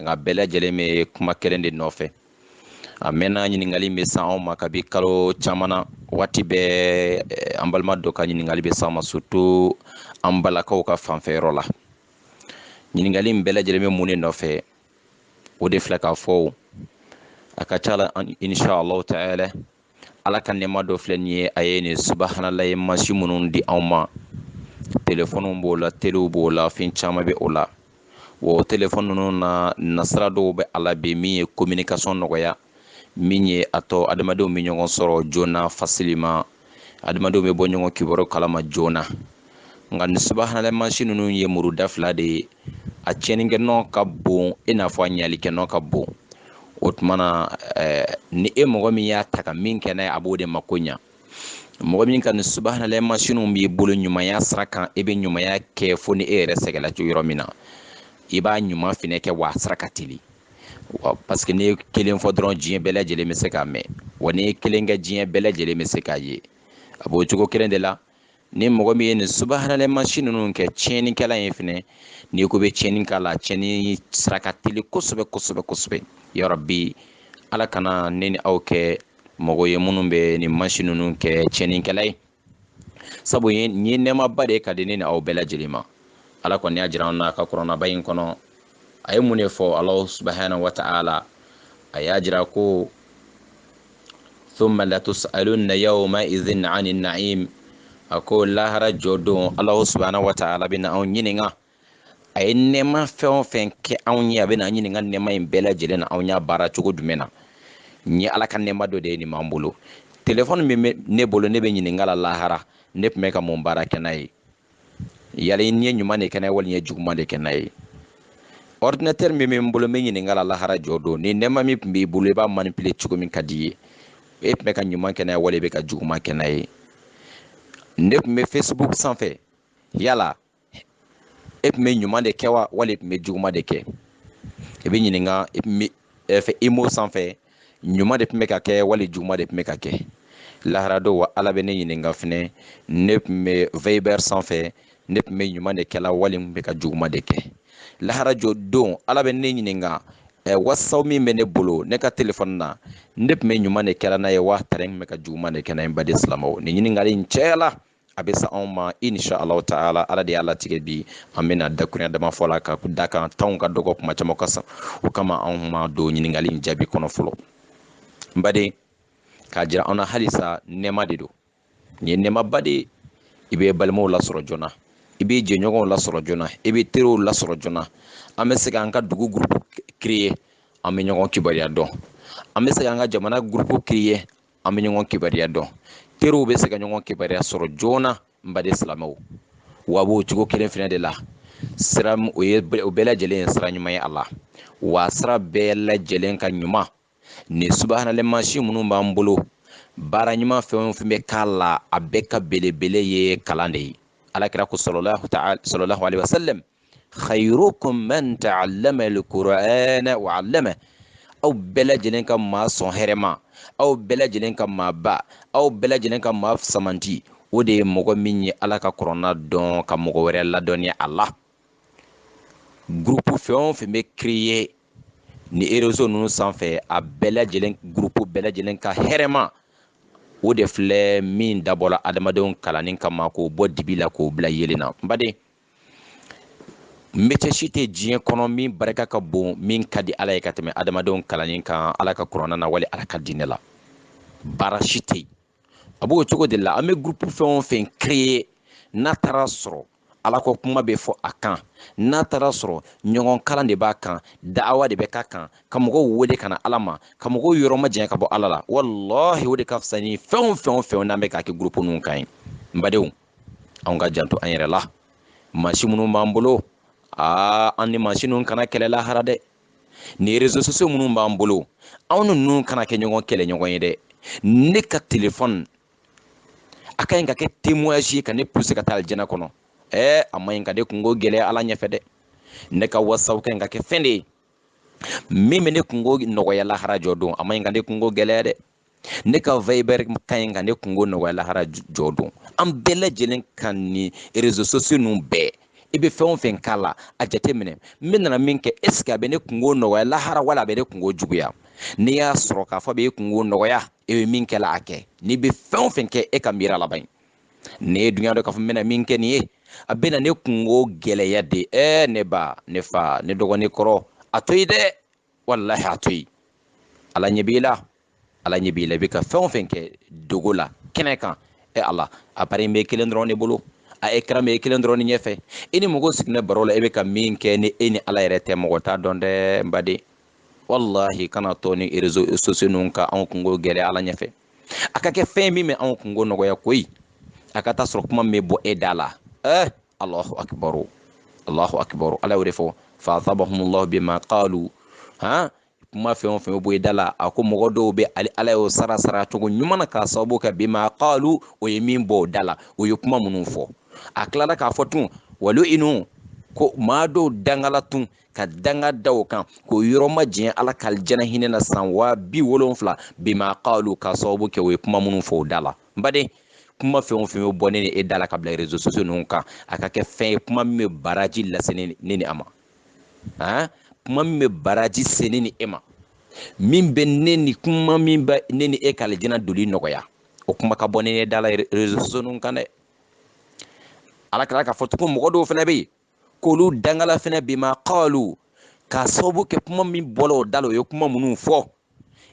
nka bɛɛ lajɛlen bɛ kuma kelen de nɔfɛ a mɛnna ɲininkali bɛ se anw ma kabi kalo caman na waati bɛɛ eh, an balima dɔ ka ɲininkali bɛ s'an ma surtout an balakaw ka fanfɛyɔrɔ la ɲininkali in bɛɛ lajɛlen bɛ mun de nɔfɛ o de filɛ k'a fɔ a ka ca la insha allahu taala ala ka nɛma dɔ filɛ nin ye a ye nin subahanalaye mansin minnu di anw ma telefɔniw b'o la telew b'o la fɛn caman bɛ o la wa o telefɔni ninnu na nasira dɔw bɛ a la bi min ye kominikasɔn nɔgɔya min ye a to adamadenw bɛ ɲɔgɔn sɔrɔ joona facilement adamadenw bɛ bɔ ɲɔgɔn kibaru kalama joona nka nin subahanalaye mansin ninnu ye muru da fila de ye a tiɲɛnikɛ nɔ ka bon i n'a fɔ a ɲalikɛ nɔ ka bon o tuma na ni e mɔgɔ min y'a ta ka min kɛ n'a ye a b'o de mako ɲa mɔgɔ min ka nin subahanalaye mansinw b'i bolo ɲumanya sira kan i bɛ ɲumanya kɛ fo ni e yɛrɛ sɛgɛnla cogo yɔrɔ min na i b'a ɲuman fɛnɛ kɛ wa a sira ka teli wa paseke n'i ye kelen fɔ dɔrɔn diɲɛ bɛɛ lajɛlen bɛ se k'a mɛn wa n'i ye kelen kɛ diɲɛ bɛɛ lajɛlen bɛ se k'a ye a b'o cogo kelen de la ni mɔgɔ min ye nin subahanalaye mansin ninnu kɛ tiɲɛnikɛla ye fɛnɛ n'i ko i bɛ tiɲɛni k'a la tiɲɛni sira ka teli kosɛbɛ kosɛbɛ kosɛbɛ ya rabi ala kana ne ni aw kɛ mɔgɔ ye minnu bɛ nin mansin ninnu kɛ tiɲɛnikɛla ye sabu nin ye nɛɛmaba de ye ka di ne ni aw bɛɛ lajɛlen ma ala kɔni y'a jira an na a ka kuranɛba in kɔnɔ a ye mun de fɔ ala subhanahu wa ta'ala a y'a jira ko thumma latus'alunna yawma idhin 'anil na'im a ko lahara jɔ don ala subhanahu wa ta'ala bɛ na anw ɲininka a ye nɛɛma fɛn o fɛn kɛ anw ye a bɛ na an ɲininka nɛɛma in bɛɛ lajɛlen na anw y'a baara cogo jumɛn na nin ye ala ka nɛɛma dɔ de ye nin b'an bolo telefɔni min bɛ ne bolo ne bɛ ɲininka la lahara ne tun bɛ ka mun baara kɛ n'a ye yala i ye ɲuman de kɛ n'a ye wali i ye juguman de kɛ n'a ye ordinateur min bɛ n bolo n bɛ ɲininka la lahara jɔ don nin nɛɛma min tun b'i bolo i b'a manipuler cogo min ka di i ye e tun bɛ ka ɲuman kɛ n'a ye wali i bɛ ka juguman kɛ n'a ye ne tun bɛ facebook sanfɛ yala e tun bɛ ɲuman de kɛ wa wali e tun bɛ juguman de kɛ i bɛ ɲininka fɛ imo sanfɛ ɲuman de tun bɛ ka kɛ wali juguman de tun bɛ ka kɛ lahara don wa ala bɛ ne ɲininka fɛnɛ ne tun bɛ viber sanfɛ ne tun bɛ ɲuman de kɛla wali n bɛ ka juguman de kɛ lahara jɔ don ala bɛ ne ɲininka Eh, whatsapp min bɛ ne bolo ne ka telefɔni na ne tun bɛ ɲuman de kɛla n'a ye wa tari n bɛ ka juguman de kɛ n'a ye n baden silamɛw nin ɲininkali in cayala a bɛ se anw ma insha alahu taala ala de y'a latigɛ bi an bɛna dakurunya dama fɔ a la ka da kan tan ka dɔgɔ kuma caman ka ca o kama anw ma don ɲininkali in jaabi kɔnɔ fɔlɔ n baden k'a jira an na halisa nɛɛma de don nin ye nɛɛmaba de ye i bɛ balimaw lasɔrɔ joona i bɛ jɛɲɔgɔnw lasɔrɔ joona i bɛ teriw lasɔrɔ joona an bɛ se k'an ka dugu gurupu kireye an bɛ ɲɔgɔn kibaruya dɔn an bɛ se k'an ka jamana gurupu kireye an bɛ ɲɔgɔn kibaruya dɔn teriw bɛ se ka ɲɔgɔn kibaruya sɔrɔ joona n baden silamɛw wa a b'o cogo kelen fana de la sira o ye o bɛɛ lajɛlen ye sira ɲuman ye a la wa sira bɛɛ lajɛlen ka ɲuman nin subahanalahi mansin minnu b'an bolo baara ɲuman fɛn o fɛn bɛ k'a la a bɛɛ ka belebele ye kalan de ye alakira ko salalahu alehi wasalam khayrukum man ta'allama al-Qur'ana wa 'allama aw bɛɛ lajɛlen ka maa sɔn hɛrɛma aw bɛɛ lajɛlen ka maa ba aw bɛɛ lajɛlen ka maa samanti o de ye mɔgɔ min ye ala ka kurana dɔn ka mɔgɔ wɛrɛ ladɔnniya a la gurupu fɛn o fɛn bɛ kireye ni erezo ninnu sanfɛ a bɛɛ lajɛlen gurupu bɛɛ lajɛlen ka hɛrɛma o de filɛ min dabɔla adamadenw kalanni kama k'o bɔ dibi la k'o bila yeelen na n baden mɛcɛ si tɛ diɲɛ kɔnɔ min barika ka bon min ka di ala ye ka tɛmɛ adamadenw kalanni kan ala ka kurana na wali ala ka diinɛ la baara si tɛ yen a b'o cogo de la an bɛ gurupu fɛn o fɛn kireye n'a taara sɔrɔ ala ko kuma bɛ fɔ a kan n'a taara sɔrɔ ɲɔgɔn kalan de b'a kan daawa de bɛ k'a kan ka mɔgɔw wele ka na ala ma ka mɔgɔw yɔrɔ ma janya ka bɔ ala la walahi o de ka fisa ni fɛn o fɛn o fɛn n'an bɛ k'a kɛ gurupu ninnu kan ye n badenw anw ka janto an yɛrɛ la mansin minnu b'an bolo aa an ni mansin ninnu kana kɛlɛ lahara dɛ ni rezo sosiyo minnu b'an bolo anw ni ninnu kana kɛ ɲɔgɔn kɛlɛ ɲɔgɔn ye dɛ ne ka telefɔni a ka ɲi ka kɛ temoyasi ye ka ne puse ka taa alijana kɔnɔ ɛɛ a ma ɲi ka ne kungo gɛlɛya ala ɲɛfɛ dɛ ne ka wasapu ka ɲi ka kɛ fɛn de ye min bɛ ne kungo nɔgɔya lahara jɔ don a ma ɲi ka ne kungo gɛlɛya dɛ ne ka viber ka ɲi ka ne kungo nɔgɔya lahara jɔ don an bɛɛ lajɛlen ka ni rezo sosiyo ninnu bɛɛ i bɛ fɛn o fɛn k'a la a jateminɛ n bɛ nana min kɛ eseke a bɛ ne kungo nɔgɔya lahara wala a bɛ ne kungo juguya n'i y'a sɔrɔ k'a fɔ a bɛ e kungo nɔgɔya e bɛ min kɛ la a kɛ n'i bɛ fɛn o fɛn kɛ e ka miiri laban n'e dun y'a dɔn k'a fɔ n bɛna min kɛ nin ye a bɛna ne kungo gɛlɛya de ɛɛ ne ba ne fa ne dɔgɔ ni n kɔrɔ a to yen dɛ walahi a to yen ala ɲɛ b'i la ala ɲɛ b'i la i bɛ ka fɛn o fɛn kɛ dogo la kɛnɛ kan e ala appareil in bɛ i kelen dɔrɔn de bolo a écran bɛ e kelen dɔrɔn de ɲɛfɛ i ni mɔgɔ sigilen baro la e bɛ ka min kɛ ni e ni ala yɛrɛ tɛ mɔgɔ t'a dɔn dɛ n baden walahi kana to nin réseaux sociaux ninnu ka anw kungo gɛlɛya ala ɲɛfɛ a ka kɛ fɛn min bɛ anw kungo nɔgɔya koyi a ka taa sɔrɔ kuma min bɛ bɔ e da la ɛɛ Allahu akbar Allahu akbar Ala y'o de fɔ fa asabahumullahu bima qalu han kuma fɛn o fɛn bɛ bɔ i da la a ko mɔgɔ dɔw bɛ ale ala y'o sara sara cogo ɲuman na k'a sababu kɛ bima qalu o ye min bɔ o da la o ye kuma minnu fɔ a tilala k'a fɔ tun wa lu'inu ko maa dɔw dangala tun ka danga da o kan k'o yɔrɔ majanya ala ka alijana hinɛ na san waa bi wolonfila bima qalu k'a sababu kɛ o ye kuma minnu fɔ o da la n baden kuma fɛn o fɛn bɛ bɔ ne ni e da la ka bila réseaux sociaux ninnu kan a ka kɛ fɛn ye kuma min bɛ baraji lase ne ni a ma han kuma min bɛ baraji se ne ni e ma min bɛ ne ni kuma min bɛ ne ni e ka alijana doli nɔgɔya o kuma ka bɔ ne ni e da la réseaux sociaux ninnu kan dɛ ala kɛra k'a fɔ tugun mɔgɔ dɔw fana bɛ yen k'olu dangala fɛnɛ bima qalu k'a sababu kɛ kuma min bɔla o da la o ye kuma minnu fɔ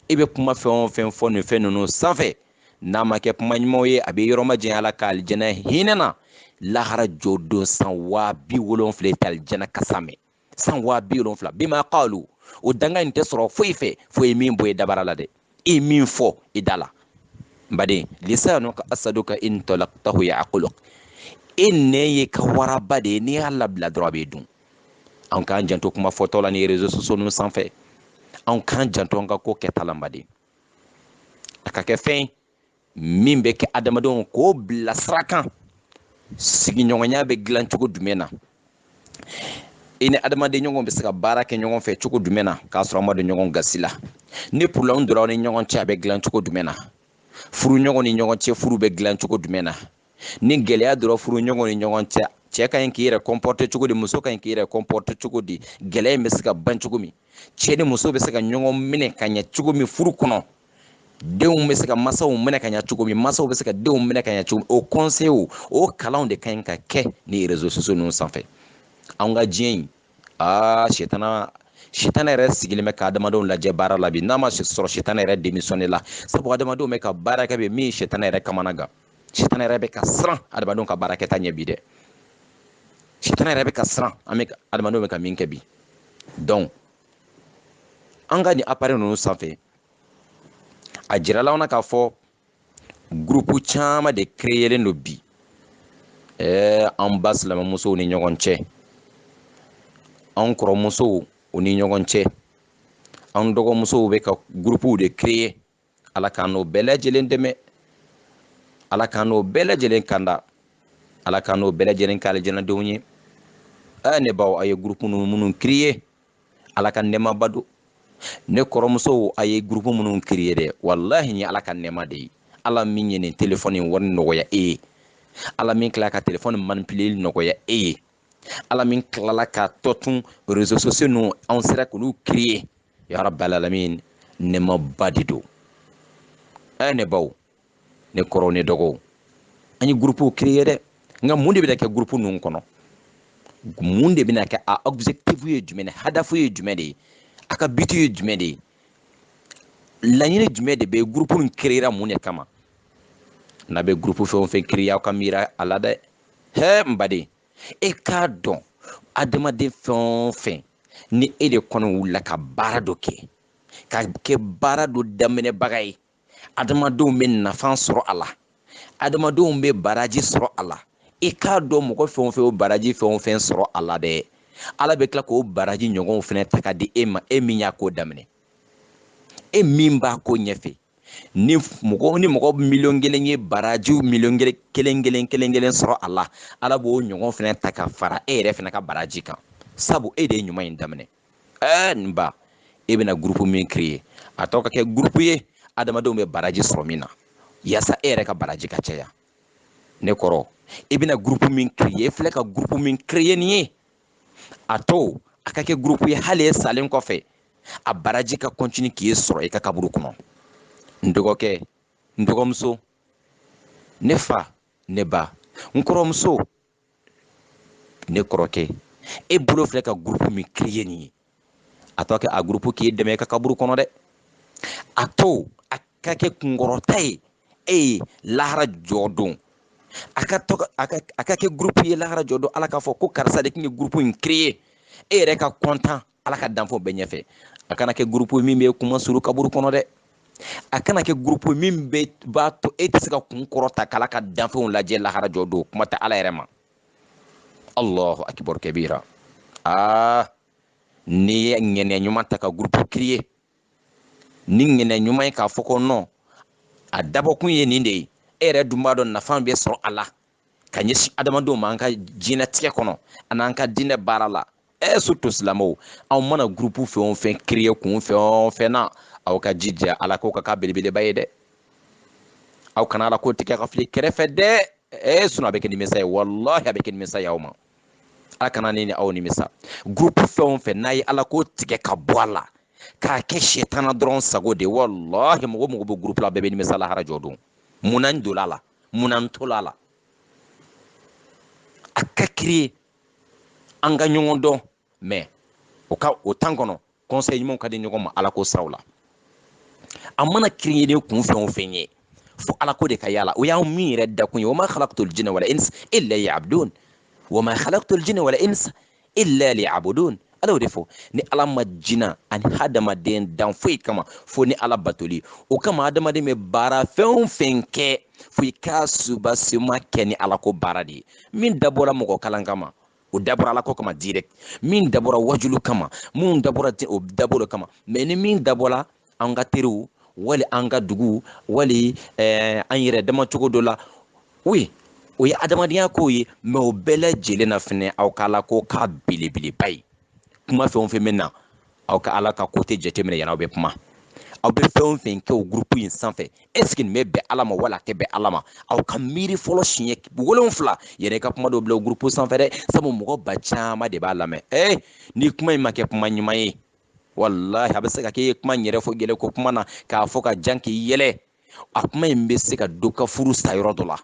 i bɛ kuma fɛn o fɛn fɔ nin fɛn ninnu sanfɛ n'a ma kɛ kuma ɲumanw ye a b'i yɔrɔ majanya ala ka alijana hinɛ na lahara jɔ don san waa bi wolonfila i tɛ alijana kasa mɛn san waa bi wolonfila bima qalu o danga in tɛ sɔrɔ foyi fɛ fo i ye min bɔ e dabara la dɛ i min fɔ i da la n baden lisanuka asaduka in talaqtahu ya'kuluk e nɛn ye i ka waraba de ye n'i y'a labila dɔrɔn a b'i dun an k'an janto kuma fɔtɔ la nin réseaux sociaux ninnu sanfɛ an k'an janto an ka ko kɛta la n baden a ka kɛ fɛn ye min bɛ kɛ adamadenw k'o bila sira kan sigiɲɔgɔnya bɛ dilan cogo jumɛn na i ni adamaden ɲɔgɔn bɛ se ka baara kɛ ɲɔgɔn fɛ cogo jumɛn na k'a sɔrɔ an ma don ɲɔgɔn gasi la ni problème donna an ni ɲɔgɔn cɛ a bɛ dilan cogo jumɛn na furu ɲɔgɔn ni ɲɔgɔn cɛ furu bɛ dilan cogo jumɛn na ni gɛlɛya donna furu ɲɔgɔn ni ɲɔgɔn cɛ cɛ ka ɲi k'i yɛrɛ comporter cogo di muso ka ɲi k'i yɛrɛ comporter cogo di gɛlɛya in bɛ se ka ban cogo min cɛ ni muso bɛ se ka ɲɔgɔn minɛ ka ɲɛ cogo min furu kɔnɔ denw bɛ se ka masaw minɛ ka ɲɛ cogo min masaw bɛ se ka denw minɛ ka ɲɛ cogo min o conseil o kalanw de ka ɲi ka kɛ nin réseaux sociaux ninnu sanfɛ an ka diɲɛ in aa sitana sitana yɛrɛ sigilen bɛ ka adamadenw lajɛ baara la bi n'a ma sɔrɔ sitana yɛrɛ démissionné la sabu adamadenw bɛ ka baara kɛ bi min ye sitana yɛrɛ kamanagan sitana yɛrɛ bɛ ka siran adamadenw ka baara kɛta ɲɛ bi dɛ sitana yɛrɛ bɛ ka siran an bɛ adamadenw bɛ ka min kɛ bi donc an ka nin appareil ninnu sanfɛ a jirala anw na k'a fɔ gurupu caman de créelen don bi ɛɛ an ba silamɛmusow ni ɲɔgɔn cɛ an kɔrɔmusow u ni ɲɔgɔn cɛ an dɔgɔmusow bɛ ka gurupuw de créer ala k'an n'o bɛɛ lajɛlen dɛmɛ ala k'an n'o bɛɛ lajɛlen kanda ala k'an n'o bɛɛ lajɛlen k'alijanadenw ye ɛ ne baw a ye gurupu ninnu minnu créer ala ka nɛɛmaba don ne kɔrɔmusow a ye gurupu minnu créer dɛ walahi ni ala ka nɛɛma de ye ala min ye nin telefɔni wari nɔgɔya e ye ala min tila ka telefɔni manipileli nɔgɔya e ye ala min tilala k'a to nin réseaux sociaux ninnu anw sera k'olu créer ya rabbal alamin nɛɛmaba de don ɛ ne baw ne kɔrɔw ne dɔgɔw an ye gurupuw créer dɛ nka mun de bɛna kɛ gurupu ninnu kɔnɔ mun de bɛna kɛ a objectif ye jumɛn de hadafu ye jumɛn de ye a ka but ye jumɛn de ye laɲini jumɛn de bɛ gurupu nin créera mun de kama n'a bɛ gurupu fɛn o fɛn créer aw ka miira a la dɛ hɛ n baden e k'a dɔn adamaden fɛn o fɛn ni e de kɔni wulila ka baara dɔ kɛ ka kɛ baara dɔ daminɛbaga ye adamadenw bɛ nafa sɔrɔ a la adamadenw bɛ baraji sɔrɔ a la i k'a dɔn mɔgɔ fɛn o fɛn o baraji fɛn o fɛn sɔrɔ a la dɛ ala bɛ tila k'o baraji ɲɔgɔnw fɛnɛ ta ka di e ma e min y'a ko daminɛ e min b'a ko ɲɛfɛ ni mɔgɔ ni mɔgɔ miliyɔn kelen ye barajiw miliyɔn kelen kelen kelen kelen sɔrɔ a la ala b'o ɲɔgɔn fɛnɛ ta ka fara e yɛrɛ fɛnɛ ka baraji kan sabu e de ye ɲuman in daminɛ ɛɛ n ba e bɛna gurupu min créer a to a ka kɛ gurupu ye adamadenw bɛ baraji sɔrɔ min na yaasa e yɛrɛ ka baraji ka caya ne kɔrɔ i bɛna gurupu min créer e filɛ ka gurupu min créer nin ye a to a ka kɛ gurupu ye hali e salen kɔfɛ a baraji ka kɔntini k'i sɔrɔ i ka kaburu kɔnɔ n dɔgɔkɛ n dɔgɔmuso ne fa ne ba n kɔrɔmuso ne kɔrɔkɛ e bolo filɛ ka gurupu min créer nin ye a to kɛ a gurupu k'i dɛmɛ i ka kaburu kɔnɔ dɛ a to a ka kɛ kunkɔrɔta ye e ye lahara jɔ don a ka to a ka a ka kɛ gurupu ye lahara jɔ don ala k'a fɔ ko karisa de tun ye gurupu in créer e yɛrɛ ka kɔntan ala ka danfɛnw bɛɛ ɲɛfɛ a kana kɛ gurupu min b'i kunmasuuru kaburu kɔnɔ dɛ a kana kɛ gurupu min bɛ b'a to e tɛ se ka kun kɔrɔta k'ala ka danfɛnw lajɛ lahara jɔ don kuma tɛ ala yɛrɛ ma allahu akbar kabira aa ah, n'i ye ŋɛniya ɲuman ta ka gurupu kiriye ni ŋɛniya ɲuman ye k'a fɔ ko nɔn a dabɔkun ye nin de ye e yɛrɛ dun b'a dɔn nafa bɛ sɔrɔ a la ka ɲɛsin adamadenw ma an ka diɲɛtigɛ kɔnɔ an'an ka diinɛ baara la ɛ surtout silamɛw aw mana gurupu fɛn o fɛn kireye kun fɛn o fɛn na aw ka jija ala ko ka k'a belebeleba ye dɛ aw kana ala ko tigɛ ka fili kɛrɛfɛ dɛ sinon a bɛ kɛ nimisa ye walahi a bɛ kɛ nimisa ye aw ma ala kana ne ni aw nimisa gurupu fɛn o fɛn n'a ye ala ko tigɛ ka bɔ a la k'a kɛ sɛtana dɔrɔn sago de walahi mɔgɔ mɔgɔ bɛ gurupu la bɛɛ bɛ nimisa lahara jɔ don mun na n donna a la mun na n tola a la a ka kiriye an ka ɲɔgɔn dɔn mɛ o ka o tan kɔnɔ kɔnsɛyi ɲumanw ka di ɲɔgɔn ma ala ko siraw la a mana kiriye ni kun fɛn o fɛn ye fo ala ko de ka y'a la o y'anw min yɛrɛ dakun ye wa ma khalaqtul jinna wal insa illa liya'budun wa ma khalaqtul jinna wal insa illa liya'budun ala y'o de fɔ ne ala ma jina ani hadamaden dan foyi kama fo ne ala batoli o kama hadamaden bɛ baara fɛn o fɛn kɛ fo i k'a subasima kɛ ni ala ko baara de ye min dabɔra mɔgɔ kalan kama o dabɔra ala ko kama direct min dabɔra waajulu kama minnu dabɔra o dabɔra kama mɛ ni min dabɔra an ka teriw wali an ka dugu wali eh, an yɛrɛ dama cogo dɔ la oui o ye adamadenya ko ye mɛ o bɛɛ lajɛlen na fɛnɛ aw ka ala ko k'a belebeleba ye kuma fɛn o fɛn bɛ na aw ka ala ka kote jateminɛ yann'aw bɛ kuma aw bɛ fɛn o fɛn kɛ o gurupu in sanfɛ ɛseke nin bɛ bɛn ala ma wala a tɛ bɛn ala ma aw ka miiri fɔlɔ siɲɛ wolonfila yɛrɛ ka kuma dɔ bila o gurupu sanfɛ dɛ sabu mɔgɔ ba caman de b'a lamɛn ee ni kuma in ma kɛ kuma ɲuman ye walahi a bɛ se ka k'e ye kuma in yɛrɛ fɔ yɛlɛ ko kuma na k'a fɔ ka jan k'i yɛlɛ a kuma in bɛ se ka dɔ ka furu sa yɔrɔ dɔ la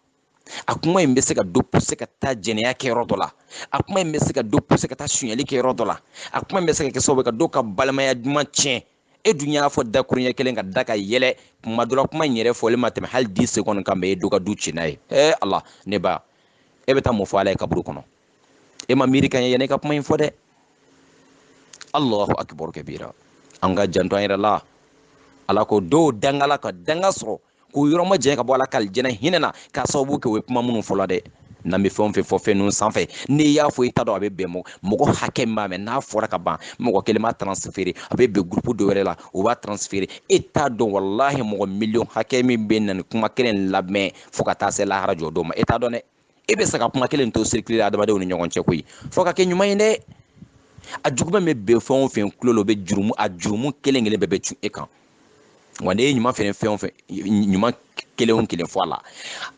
a kuma in bɛ se ka dɔ puse ka taa jɛnɛya kɛ yɔrɔ dɔ la a kuma in bɛ se ka dɔ puse ka taa sonyali kɛ yɔrɔ dɔ la a kuma in bɛ se ka kɛ sababu ka dɔ ka balimaya duman tiɲɛ e dun y'a fɔ dakuruɲɛ kelen ka da ka yɛlɛ kuma dɔ la kuma in yɛrɛ fɔlen ma tɛmɛ hali di sekɔni kan mɛ e dɔ ka du tiɲɛ n'a ye ee ala ne ba e bɛ taa mun fɔ ala ye kaburu kɔnɔ e ma miiri ka ɲɛ yanni i ka kuma in fɔ dɛ allahu akibaru kabira an ka janto an yɛrɛ la ala ko dɔw dangala ka danga sɔrɔ k'u yɔrɔ majanya ka bɔ ala ka alijana hinɛ na k'a sababu kɛ u ye kuma minnu fɔ la dɛ n'an bɛ fɛn o fɛn fɔ fɛn ninnu sanfɛ n'i y'a fɔ i t'a dɔn a bɛ bɛn mɔgɔ mɔgɔ hakɛ min b'a mɛn n'a fɔra ka ban mɔgɔ kelen b'a transfere a bɛ bɛn gurupu dɔ wɛrɛ la o b'a transfere e t'a dɔn walahi mɔgɔ miliyɔn hakɛ min bɛ na nin kuma kelen lamɛn fo ka taa se lahara jɔ don ma e t'a dɔn dɛ e bɛ se ka kuma kelen to circuler adamadenw ni ɲɔgɔn cɛ koyi fo ka kɛ ɲuman ye dɛ a juguman bɛ bɛn fɛn o fɛn tulo la o bɛ jurumu a jurumu kelen kelen bɛɛ bɛ cun e kan wa n'i ye ɲuman fɛnɛ fɛn o fɛn ɲuman kelen o kelen fɔ a la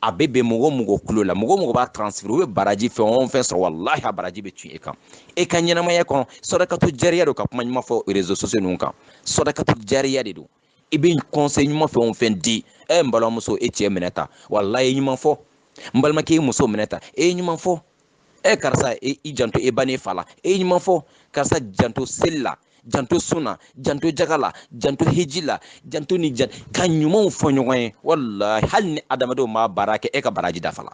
a bɛ bɛn mɔgɔ o mɔgɔ tulo la mɔgɔ o mɔgɔ b'a transférer u bɛ baraji fɛn o fɛn sɔrɔ walahi a baraji bɛ cun e kan e ka ɲɛnamaya kɔnɔ sadakatu jariya don ka kuma ɲuman fɔ réseaux sociaux ninnu kan sadakatu jariya de don i bɛ conseil ɲuman fɛn o fɛn di ɛ n balimamuso e cɛ minɛ ta walahi e ye ɲuman fɔ n balimakɛ e muso minɛ ta e ye ɲuman fɔ ɛ karisa e, i janto e ba n'e fa la e ye ɲuman fɔ karisa janto seli la janto sun na janto jaga la janto hiji la janto ni jan ka ɲumanw fɔ ɲɔgɔn ye walahi hali ni adamadenw m'a baara kɛ e ka baraji dafala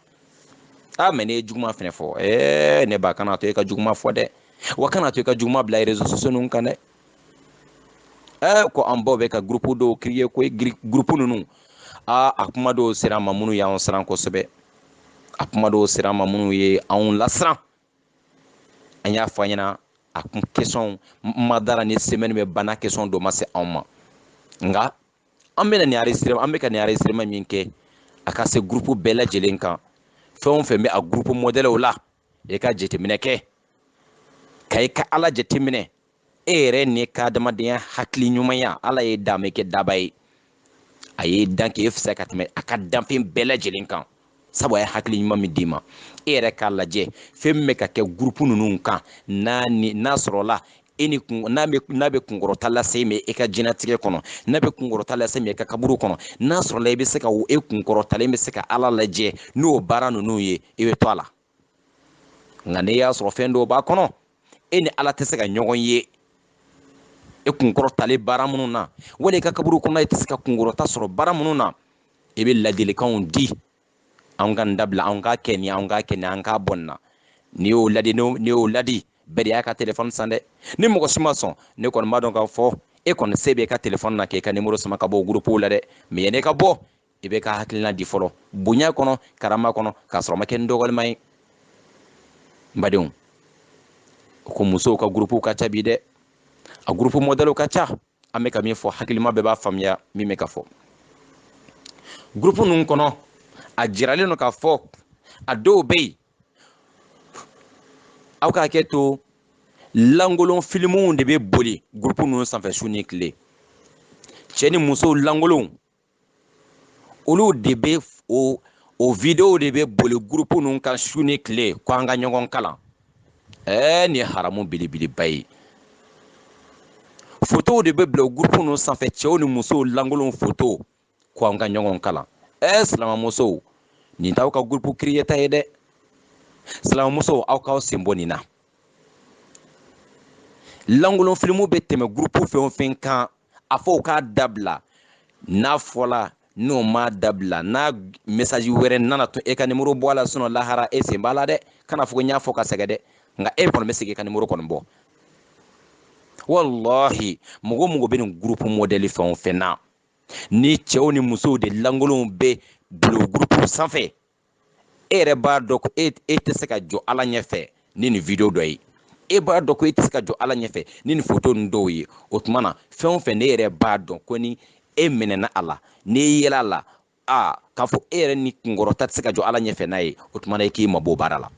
a mais n'i ye juguman fɛnɛ fɔ ɛɛ ne ba kana to e ka juguman fɔ dɛ wa kana to i ka juguman bila réseaux sociaux ninnu kan dɛ ɛɛ ko an baw bɛ ka gurupu dɔw créer ko gurupu ninnu aa a kuma dɔw sera an ma minnu y'an siran kosɛbɛ a kuma dɔw sera an ma minnu ye anw lasiran an y'a fɔ an ɲɛna a kun questions ma dara ni semɛni bɛ ban a question dɔ ma se anw ma nka an bɛna nin enregistrement an bɛ ka nin enregistrement min kɛ a ka se gurupu bɛɛ lajɛlen kan fɛn o fɛn bɛ a gurupu mɔdɛliw la i ka jateminɛ kɛ ka i ka ala jateminɛ e yɛrɛ n'i ka adamadenya hakili ɲumanya ala y'i dan a m'i kɛ daaba ye a y'i dan k'e fisaya ka tɛmɛ a ka danfɛn bɛɛ lajɛlen kan sabu a ye hakili ɲuman min d'i ma e yɛrɛ k'a lajɛ fɛn min bɛ ka kɛ gurupu ninnu kan n'a sɔrɔla e ni kun n'a bɛ n'a bɛ kunkɔrɔta lase i ma e ka jɛnatigɛ kɔnɔ n'a bɛ kunkɔrɔta lase i ma e ka kaburu kɔnɔ n'a sɔrɔla i bɛ se ka e kunkɔrɔtalen bɛ se ka ala lajɛ n'o baara ninnu ye i bɛ to a la nka n'i y'a sɔrɔ fɛn dɔw b'a kɔnɔ e ni ala tɛ se ka ɲɔgɔn ye e kunkɔrɔtalen baara minnu na wali i ka kaburu kɔnɔ i tɛ se ka kunkɔrɔta sɔrɔ baara minnu na i bɛ ladilikanw di an ka nin dabila an k'a kɛ nin an k'a kɛ nin an ka bɔ nin na n'i y'o ladi n'i y'o ladi bɛɛ de y'a ka telefɔni san dɛ ni mɔgɔ si ma sɔn ne kɔni b'a dɔn k'a fɔ e kɔni se b'i ka telefɔni na k'i ka nimoro sama ka bɔ gurupuw la dɛ mais yanni i ka bɔ i b'i ka hakilina di fɔlɔ bonya kɔnɔ karama kɔnɔ k'a sɔrɔ a ma kɛ n dɔgɔlima ye n badenw ko musow ka gurupuw ka ca bi dɛ a gurupu mɔdɛliw ka ca an bɛ ka min fɔ hakilima bɛɛ b'a faamuya min bɛ ka fɔ gurupu ninnu kɔnɔ a jiralen don k'a fɔ a dɔw bɛ yen aw ka hakɛ to lankolon filimuw de bɛ boli gurupu ninnu sanfɛ su ni tile cɛ ni musow lankolonw olu de bɛ o o videow de bɛ boli gurupu ninnu kan su ni tile ko an ka ɲɔgɔn kalan ɛɛ nin ye haramu belebeleba ye fotow de bɛ bila o gurupu ninnu sanfɛ cɛw ni musow lankolon foto ko an ka ɲɔgɔn kalan ɛɛ silamɛmusow nin t'aw ka gurupu kiriyeta ye dɛ silamɛmusow aw k'aw sen bɔ nin na lankolon filimu bɛ tɛmɛ gurupu fɛn o fɛn kan a fɔ u k'a dabila n'a fɔla n'o m'a dabila n'a mesaji wɛrɛ nana tun e ka nimoro bɔ a la sinɔ lahara e sen b'a la dɛ kana fɔ ko n y'a fɔ ka sɛgɛn dɛ nka e kɔni bɛ se k'e ka nimoro kɔni bɔ walahi mɔgɔ o mɔgɔ bɛ nin gurupu mɔdɛli fɛn o fɛn na ni cɛw ni musow de lankolonw bɛ bila o gurupu sanfɛ e yɛrɛ b'a dɔn ko e tɛ se ka jɔ ala ɲɛfɛ ni nin video dɔ ye e b'a dɔn ko e tɛ se ka jɔ ala ɲɛfɛ ni nin foto ninnu dɔw ye o tuma na fɛn o fɛn n'e yɛrɛ b'a dɔn ko ni e minɛna a la n'i yela a la k'a fɔ e yɛrɛ ni kunkɔrɔta tɛ se ka jɔ ala ɲɛfɛ n'a ye o tuma na i k'i mabɔ baara la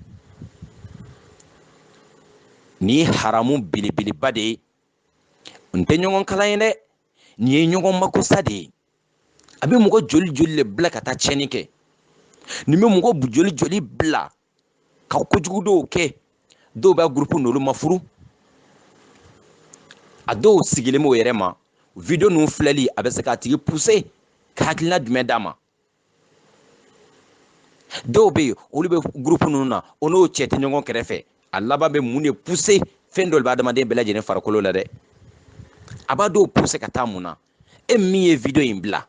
nin ye haramu belebeleba de ye nin tɛ ɲɔgɔn kalan ye dɛ nin ye ɲɔgɔn makosa de ye a bɛ mɔgɔ joli joli de bila ka taa tiɲɛni kɛ nin bɛ mɔgɔ joli joli bila ka kojugu dɔw kɛ dɔw b'a gurupu n'olu ma furu a dɔw sigilen b'o yɛrɛ ma video ninnu filɛli a bɛ se k'a tigi puse ka hakilina jumɛn d'a ma dɔw bɛ yen olu bɛ gurupu ninnu na o n'o cɛ tɛ ɲɔgɔn kɛrɛfɛ a laban bɛ mun de puse fɛn dɔ de bɛ adamaden bɛɛ lajɛlen farikolo la dɛ a b'a dɔw puse ka taa mun na e min ye video in bila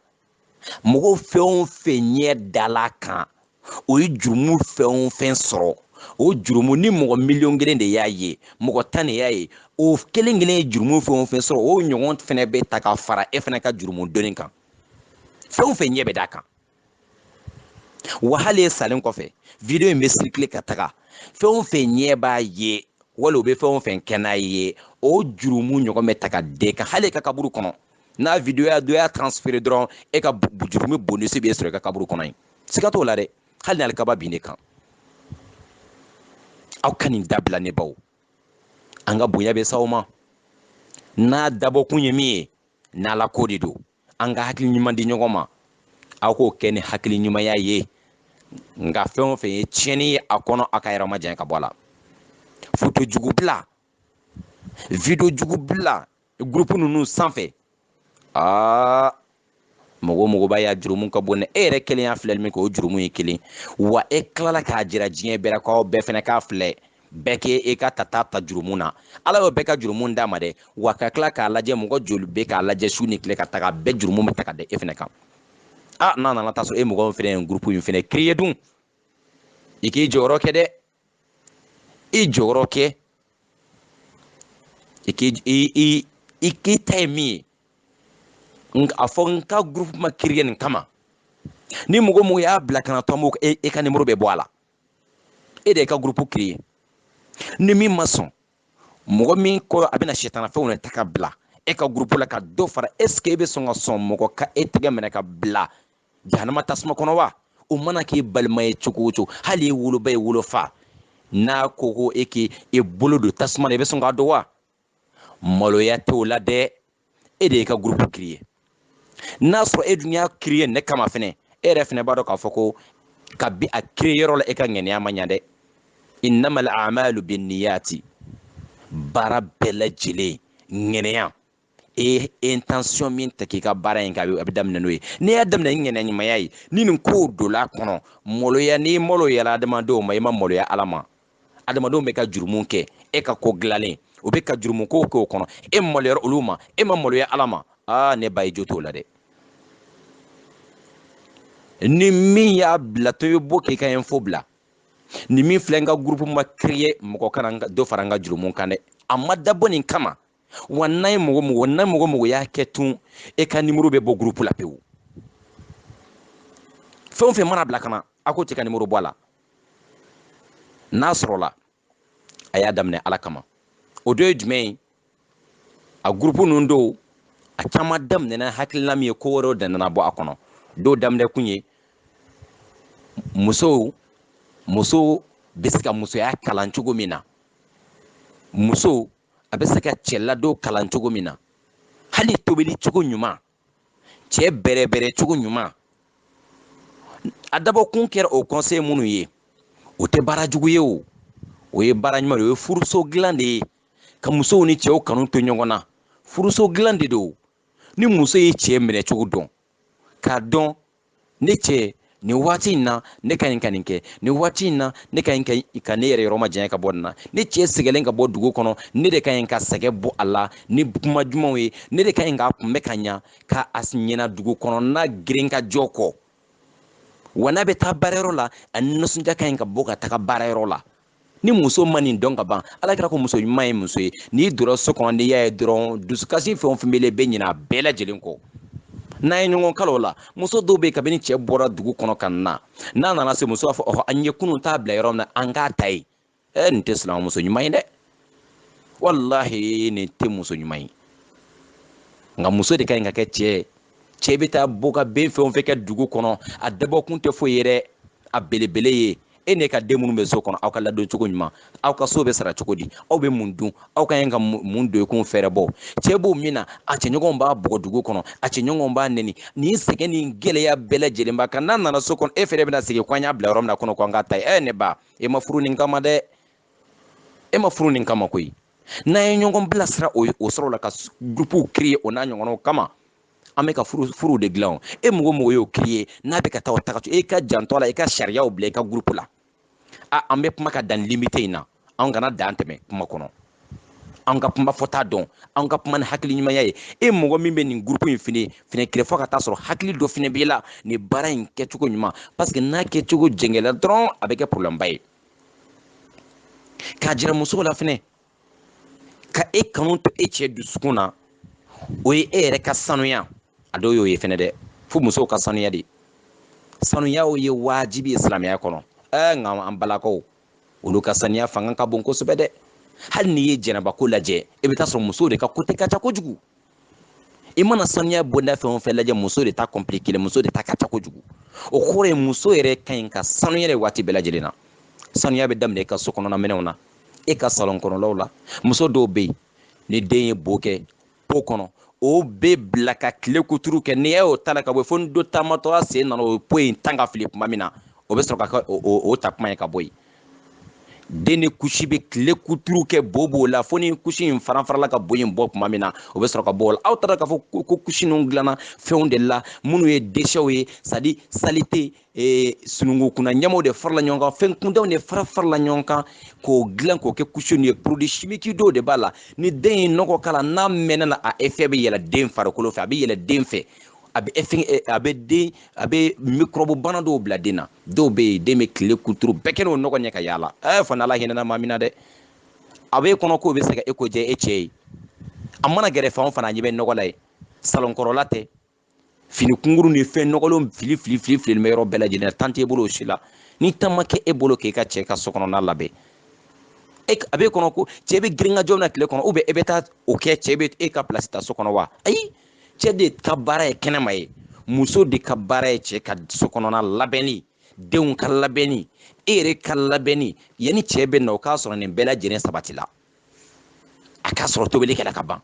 mɔgɔ fɛn o fɛn ɲɛ dala a kan o ye jurumu fɛn o fɛn sɔrɔ o jurumu ni mɔgɔ miliyɔn kelen de y'a ye mɔgɔ tan de y'a ye o kelen kelen ye jurumu fɛn o fɛn sɔrɔ o ɲɔgɔn fɛnɛ bɛ ta ka fara e fɛnɛ ka jurumu doni kan fɛn o fɛn ɲɛ bɛ d'a kan wa hali e salen kɔfɛ video in bɛ sirikile ka taga fɛn o fɛn ɲɛ b'a ye wali o bɛ fɛn o fɛn kɛ n'a ye o jurumu ɲɔgɔn bɛ ta ka d'e kan hali e ka kaburu kɔnɔ n'a video ya dɔ y'a transfere dɔrɔn e ka jurumu bonisi bɛ sɔrɔ e ka kaburu kɔnɔ yen siga t'o la dɛ hali n'alikaba bin ne kan aw ka nin dabila ne baw an ka bonya bɛ s'aw ma n'a dabɔkun ye min ye n'ala ko de don an ka hakili ɲuman di ɲɔgɔn ma aw k'o kɛ ni hakili ɲumanya ye nka fɛn o fɛn ye tiɲɛni ye a kɔnɔ a k'a yɛrɛ majanya ka bɔ a la foto jugu bila video jugu bila gurupu ninnu sanfɛ aa mɔgɔ o mɔgɔ b'a y'a jurumu ka bon dɛ e yɛrɛ kelen y'a filɛli min kɛ o jurumu ye kelen wa e tilala k'a jira diɲɛ bɛɛ la k'aw bɛɛ fɛnɛ k'a filɛ bɛɛ k'e e ka ta ta ta jurumu na ala y'o bɛɛ ka jurumu d'a ma dɛ wa ka tila k'a lajɛ mɔgɔ joli bɛ k'a lajɛ su ni tile ka taga bɛɛ jurumu bɛ ta ka da e fɛnɛ kan a n'a nana taa sɔrɔ e mɔgɔ fɛnɛ ye gurupu in fɛnɛ kiriye dun i k'i jɔyɔrɔ kɛ dɛ i jɔyɔrɔ kɛ i k'i i i k'i ta ye min ye a fɔ n ka gurupu ma kiriye nin kama ni mɔgɔ mɔgɔ y'a bila ka na dɔrɔn e ka nimoro bɛ bɔ a la e de y'i ka gurupu kiriye ni min ma sɔn mɔgɔ min ko a bɛna sɛtanafɛnw de ta ka bila e ka gurupu la ka dɔ fara esike e bɛ sɔn ka sɔn mɔgɔ ka e tɛgɛ minɛ ka bila jahanama tasuma kɔnɔ wa o mana k'i balima ye cogo o cogo hali e woloba i wolofa n'a ko ko e k'i e bolo don tasuma na i bɛ sɔn k'a don wa maloya t'o la dɛ e de y'i ka gurupu kiriye n'a sɔrɔ e dun y'a kiriye nin kama fɛnɛ e yɛrɛ fɛnɛ b'a dɔn k'a fɔ ko kabi a kiriye yɔrɔ la e ka ŋɛniya ma ɲa dɛ innamal amalu binniyati baara bɛɛ lajɛlen ŋɛniya e intention min ta k'i ka baara in kɛ a bɛ daminɛ n'o ye n'i y'a daminɛ ni ŋɛniya ɲumanya ye ni nin kow donla kɔnɔ maloya n'i maloyala adamadenw ma i ma maloya ala ma adamadenw bɛ ka jurumu kɛ e ka ko dilannen o bɛ ka jurumu kow kɛ o kɔnɔ e maloyara olu ma e ma maloya ala ma aa ne ba i jo t'o la dɛ ni min y'a bila to i bɔ k'i ka info bila ni min filɛ n ka gurupu ma kiriye mɔgɔ kana dɔ fara n ka jurumu kan dɛ a ma dabɔ nin kama wa n'a ye mɔgɔ mɔgɔ n'a mɔgɔ mɔgɔ y'a kɛ tun e ka nimoro bɛ bɔ gurupu la pewu fɛn o fɛn mana bila ka na a ko tɛ ka nimoro bɔ a la n'a sɔrɔla a y'a daminɛ ala kama o dɔ ye jumɛn ye a gurupu ninnu dɔw a caman daminɛna hakilina min ye ko wɛrɛw de nana bɔ a kɔnɔ dɔw daminɛ kun ye musow muso bɛ se ka musoya kalan cogo min na muso a bɛ se ka cɛladon kalan cogo min na hali tobili cogo ɲuman cɛ bɛrɛbɛrɛ cogo ɲuman a dabɔkun kɛra o conseil minnu ye o tɛ baara jugu ye o o ye baara ɲuman de o ye furuso dilan de ye ka musow ni cɛw kanu to ɲɔgɔn na furuso dilan de don ni muso ye cɛ minɛ cogo dɔn k'a dɔn ne cɛ nin waati in na ne ka ɲi ka nin kɛ nin waati in na ne ka ɲi ka ne yɛrɛ yɔrɔ majanya ka bɔ nin na ne cɛ sɛgɛlen ka bɔ dugu kɔnɔ ne de ka ɲi ka sɛgɛ bɔ a la ni kuma dumanw ye ne de ka ɲi k'a kunbɛ ka ɲa ka a ɲina dugu kɔnɔna girinkajɔ kɔ wa n'a bɛ taa baarayɔrɔ la a nisɔndiya ka ɲi ka bɔ ka taga baarayɔrɔ la ni muso ma nin dɔn ka ban ala kira ko muso ɲuman ye muso ye n'i donna so kɔnɔ n'i y'a ye dɔrɔn dusukasi fɛn o fɛn b'i la i bɛ ɲinɛ a bɛɛ lajɛlen kɔ n'an ye ɲɔgɔn kalo la muso dɔw bɛ yen kabini cɛ bɔra dugu kɔnɔ ka na n'a nana se muso b'a fɔ ɔhɔ an ye kunun ta bila yɔrɔ min na an k'a ta yen ɛ nin tɛ silamɛmuso ɲuman ye dɛ walahi nin tɛ muso ɲuman ye nka muso de ka ɲi ka kɛ cɛ ye cɛ bɛ taa bɔ ka ben fɛn o fɛn kɛ dugu kɔnɔ a dabɔkun tɛ foyi ye dɛ a belebele ye e n'e ka den minnu bɛ so kɔnɔ aw ka ladon cogo ɲuman aw ka so bɛ sara cogo di aw bɛ mun dun aw ka ɲi ka mun don i kun fɛɛrɛ bɔ cɛ b'o min na a cɛɲɔgɔnw b'a bugɔ dugu kɔnɔ a cɛɲɔgɔnw b'a nɛni nin sɛgɛn ni gɛlɛya bɛɛ lajɛlen b'a kan n'a nana so kɔnɔ e fɛnɛ bɛna segin ko an y'a bila yɔrɔ min na kunun ko an k'a ta yen ɛ ne ba e ma furu nin kama dɛ e ma furu nin kama koyi n'an ye ɲɔgɔn bilasira o sɔrɔ la ka gurupuw créer o n'a ɲɔgɔnnaw kama an bɛ ka furuw de dilan e mɔgɔ mɔgɔ y'o créer n'a bɛ ka taa o taga to e ka janto a la i ka sariyaw bila i ka gurupu la a an bɛ kuma ka dan limite in na an kana dan tɛmɛ kuma kɔnɔ an ka kuma fɔta dɔn an ka kuma ni hakili ɲumanya ye e mɔgɔ min bɛ nin gurupu in fɛnɛ fɛnɛ créer fo ka taa sɔrɔ hakili dɔ fɛnɛ b'i la nin baara in kɛcogo ɲuman paseke n'a kɛcogo jɛngɛla dɔrɔn a bɛ kɛ problème ba ye k'a jira musow la fɛnɛ ka e kanu to e cɛ dusukun na o ye e yɛrɛ ka sanuya a dɔw y'o ye fɛnɛ dɛ fo musow ka sanuya de sanuya o ye wajibi ye silamɛya kɔnɔ ɛɛ nka an balakaw olu ka sanuya fanga ka bon kosɛbɛ dɛ hali n'i ye janabako lajɛ i bɛ taa sɔrɔ musow de ka kote ka ca kojugu i mana sanuya bonda fɛn o fɛn lajɛ muso de ta kɔnpilikelen muso de ta ka ca kojugu o kɔrɔ ye muso yɛrɛ ka ɲi ka sanuya de waati bɛɛ lajɛlen na sanuya bɛ daminɛ i ka so kɔnɔna minɛnw na e ka salon kɔnɔlaw la muso dɔw bɛ yen ni den ye bo kɛ po kɔnɔ o bɛ bila ka tile kuturu kɛ n'i y'o ta la ka bɔ fo ni dɔ taamatɔla sen nana o po in tan ka fili tuma min na o bɛ sɔrɔ ka kɛ o ta tuma ye ka bɔ yen den ni kusi bɛ tile kuturu kɛ bo b'o la fo ni kusi in faranfarala ka bo in bɔ tuma min na o bɛ sɔrɔ ka bɔ o la aw taara k'a fɔ ko kusi ninnu dilanna fɛnw de la minnu ye déchets ye c'est-à-dire saleté e, sunungu kunna ɲamanw de farala ɲɔgɔn kan fɛn kuntanw de fara farala ɲɔgɔn kan k'o dilan k'o kɛ kusi ninnu ye produit chimique dɔw de b'a la ni den ye nɔgɔ k'a la n'a mɛnna na a effet bɛ yɛlɛ den farikolo fɛ a bɛ yɛlɛ den fɛ a bɛ effet a bɛ den a bɛ microbe bana dɔw bila den na dɔw bɛ yen den bɛ tile kuturu bɛɛ kɛ n'o nɔgɔ ye ka yaala ɛɛ fo n'ala hinɛna maa min na dɛ a b'e kɔnɔ k'o bɛ se ka e ko diya e cɛ ye a mana gɛrɛ fan o fan a ɲɛ bɛ nɔgɔ la yen salon kɔnɔla tɛ fini kunkurun ni fɛn nɔgɔlenw fili fili fili fili bɛ yɔrɔ bɛɛ lajɛlen na tan t'e bolo o si la ni tan ma kɛ e bolo k'e ka cɛ ka so kɔnɔna labɛn e a b'e kɔnɔ ko cɛ bɛ girin ka jɔ na tile kɔnɔ ubiyɛn e bɛ taa o kɛ cɛ bɛ e ka pilasi ta so kɔnɔ wa ayi cɛ de ka baara ye kɛnɛma ye muso de ka baara ye cɛ ka so kɔnɔna labɛnni denw ka labɛnni e yɛrɛ ka labɛnni yanni cɛ bɛ na o k'a sɔrɔ nin bɛɛ lajɛlen sabatila a k'a sɔrɔ tobili kɛra ka ban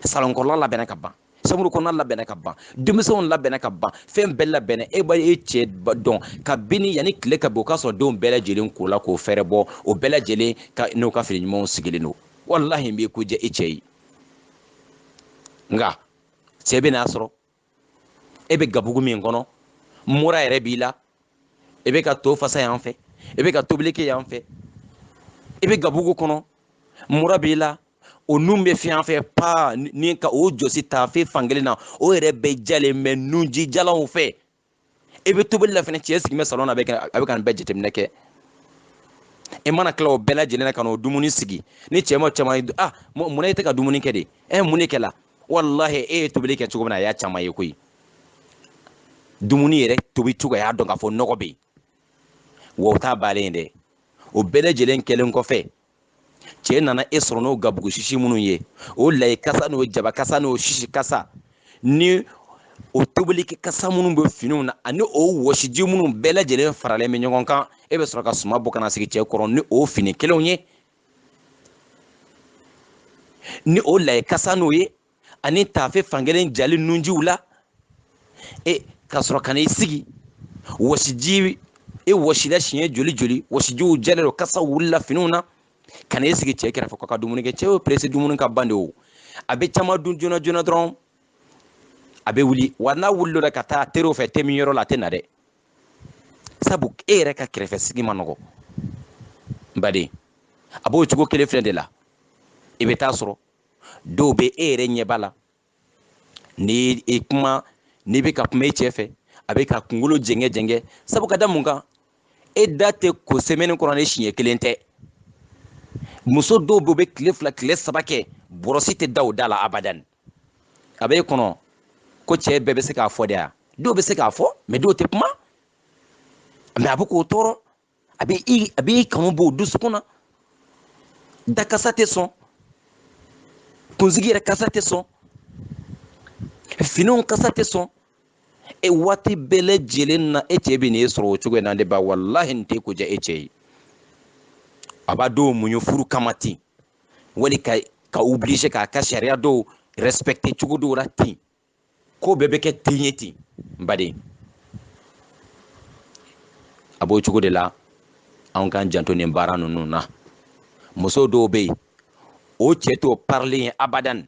salon kɔrɔla labɛnna ka ban samuru kɔnɔna labɛnna ka ban denmisɛnw labɛnna ka ban fɛn bɛɛ labɛnna e b'a ye cɛ dɔn kabini yanni tile ka bɔ o k'a sɔrɔ denw bɛɛ lajɛlen kola k'o fɛɛrɛ bɔ o bɛɛ lajɛlen ka n'o ka fini ɲumanw sigilen don walahi nin b'i ko diya i cɛ ye nka cɛ bɛ n'a sɔrɔ e bɛ gabugu min kɔnɔ mura yɛrɛ b'i la e bɛ ka to fasa yan fɛ e bɛ ka tobili kɛ yan fɛ e bɛ gabugu kɔnɔ mura b'i la o nun bɛ fiɲɛ yan fɛ paa ni ka o jɔsi taafe fankelen na o yɛrɛ bɛɛ jalen bɛ nunji jalanw fɛ i bɛ tobili la fɛnɛ cɛ sigilen bɛ salɔn na a bɛ ka a bɛ ka nin bɛɛ jateminɛ kɛ i mana tila o bɛɛ lajɛlen na ka n'o dumuni sigi ni cɛ ma caman ye ah mun na e tɛ ka dumuni kɛ de ɛ mun de kɛla walahi e ye tobili kɛ cogo min na a y'a caman ye koyi dumuni yɛrɛ tobi cogo a y'a dɔn k'a fɔ nɔgɔ bɛ yen wa o t'a baalen ye dɛ o bɛɛ lajɛlen kɛlen kɔfɛ cɛ nana e sɔrɔ n'o gabugu sisi minnu ye o layi kasa n'o jaba kasa n'o sisi kasa ni o tobilikɛ kasa minnu bɛ finiw na ani o wɔsiji minnu bɛɛ lajɛlen faralen bɛ ɲɔgɔn kan e bɛ sɔrɔ ka suman bɔ ka n'a sigi cɛ kɔrɔ ni o fini kelenw ye ni o layi kasa n'o ye ani taafe fankelen jalen nunjiw la e ka sɔrɔ ka n'i sigi wɔsiji e wɔsila siɲɛ joli joli wɔsijiw jalen don kasa wulila finiw na ka n'i sigi cɛ kɛrɛfɛ k'a ka dumuni kɛ cɛ y'o perese dumuni ka ban de o a bɛ caman dun joona joona dɔrɔn a bɛ wuli wa n'a wulila o la ka taa teriw fɛ te min yɔrɔ la a tɛ na dɛ sabu e yɛrɛ ka kɛrɛfɛ sigi man nɔgɔ n baden a b'o cogo kelen filɛ de la i bɛ taa sɔrɔ dɔw bɛ e yɛrɛ ɲɛ b'a la ni e kuma n'i bɛ ka kuma e cɛ fɛ a bɛ ka kunkolo jɛngɛ jɛngɛ sabu ka da mun kan e da tɛ ko semaine kɔnɔ ni siɲɛ kelen tɛ muso dɔw bɛ o bɛ tile fila tile saba kɛ bɔrɔsi tɛ da o da la abadan a bɛ e kɔnɔ ko cɛ bɛɛ bɛ se k'a fɔ de ayi dɔw bɛ se k'a fɔ mais dɔw tɛ kuma mais a bɛ k'o tɔɔrɔ a bɛ i a bɛ i kanu bɔ o dusukun na da kasa tɛ sɔn kunsigi yɛrɛ kasa tɛ sɔn finiw kasa tɛ sɔn e waati bɛɛ lajɛlen na e cɛ bɛ n'e sɔrɔ o cogo in na de ba walahi nin t'e ko diya e cɛ ye a b'a dɔw muɲu furu kama ten wali k'a obliger k'a ka sariya dɔw respecter cogo dɔw la ten ko bɛɛ bɛ kɛ ten ye ten n baden a b'o cogo de la anw k'an janto nin baara ninnu na muso dɔw bɛ yen o cɛ t'o parilen ye abadan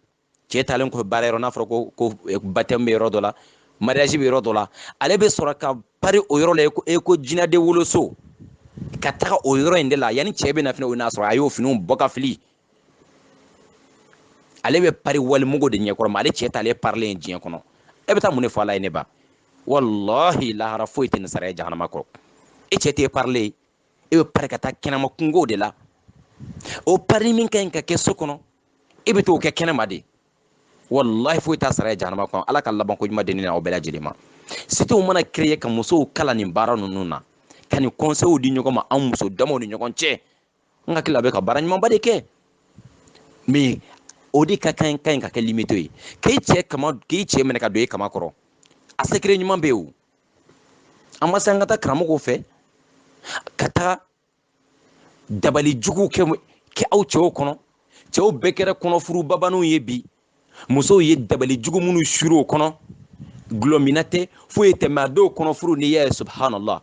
cɛ taalen kɔfɛ baara yɔrɔ n'a fɔra ko ko eh, batɛmu bɛ yɔrɔ dɔ la mariage bɛ yɔrɔ dɔ la ale bɛ sɔrɔ ka pari o yɔrɔ la i ko jinɛden woloso ka taga o yɔrɔ in de la yanni cɛ bɛ na fɛnɛ o n'a sɔrɔ a y'o finiw bɔ ka fili ale bɛ pari walimɔgɔ de ɲɛkɔrɔ mais ale cɛ t'ale parilen ye diɲɛ kɔnɔ e bɛ taa mun de fɔ ala ye ne ba walahi lahara foyi tɛ nin sara ye jahanama kɔ e cɛ t'e parilen ye e bɛ pari ka taa kɛnɛma kunkow de la o pari min ka ɲi ka kɛ so kɔnɔ e bɛ t'o kɛ kɛnɛma de walahi foyi t'a sara ye jahanama kɔ ala ka laban ko ɲuman di ne n'aw bɛɛ lajɛlen ma sitew mana créer ka musow kalan nin baara ninnu na ka nin conseils di ɲɔgɔn ma an muso damaw ni ɲɔgɔn cɛ n hakili la a bɛ ka baara ɲumanba de kɛ mais o de ka kan ka ɲi ka kɛ limite ye k'i cɛ minɛ ka don i kaman kɔrɔ a secret ɲuman bɛ yen o an ma se an ka taa karamɔgɔw fɛ ka taa dabali juguw kɛ kɛ aw cɛw kɔnɔ cɛw bɛɛ kɛra kɔnɔfuru babaninw ye bi musow ye dabali jugu minnu suuru o kɔnɔ dɔlɔminna tɛ foyi tɛ mais a dɔw kɔnɔfuru n'i y'a ye subhanallah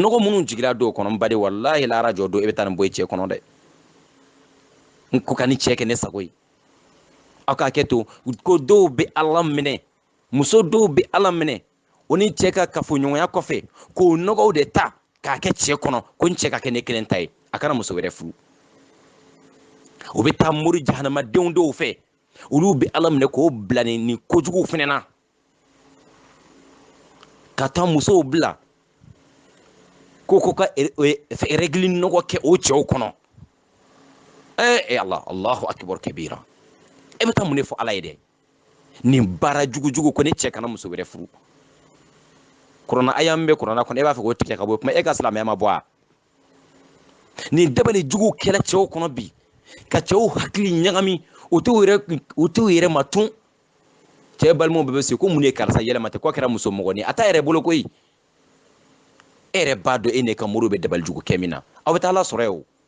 nɔgɔ minnu jigira dɔw kɔnɔ n baden walahi lahara jɔ don e bɛ taa nin bɔ i cɛ kɔnɔ dɛ n ko ka ne cɛ kɛ ne sago ye aw ka hakɛto ko dɔw bɛ ala minɛ muso dɔw bɛ ala minɛ o ni cɛ ka kafoɲɔgɔnya kɔfɛ k'o nɔgɔw de ta k'a kɛ cɛ kɔnɔ ko n cɛ ka kɛ ne kelen ta ye a kana muso wɛrɛ furu o bɛ taa mori jahanamadenw dɔw fɛ olu bɛ ala minɛ k'o bila ni nin kojuguw fana na ka taa musow bila ko ko ka règles nɔgɔ kɛ o cɛw kɔnɔ ee ala allahu akibaru kabira e bɛ taa mun de fɔ ala ye dɛ nin baara jugujugu ko ne cɛ kana muso wɛrɛ furu kurana aya min bɛ kurana kɔnɔ e b'a fɛ k'o tigɛ ka bɔ kuma e ka silamɛya ma bɔ a nin dabali juguw kɛra cɛw kɔnɔ bi ka cɛw hakili ɲagami o t'u yɛrɛ ma tun cɛ balimaw bɛɛ bɛ se ko mun de ye karisa yɛlɛma ten k'a kɛra muso mɔgɔnin a t'a yɛrɛ bolo koyi e yɛrɛ b'a dɔn e n'e ka mori bɛ dabali jugu kɛ min na aw bɛ taa ala sɔrɔ yen o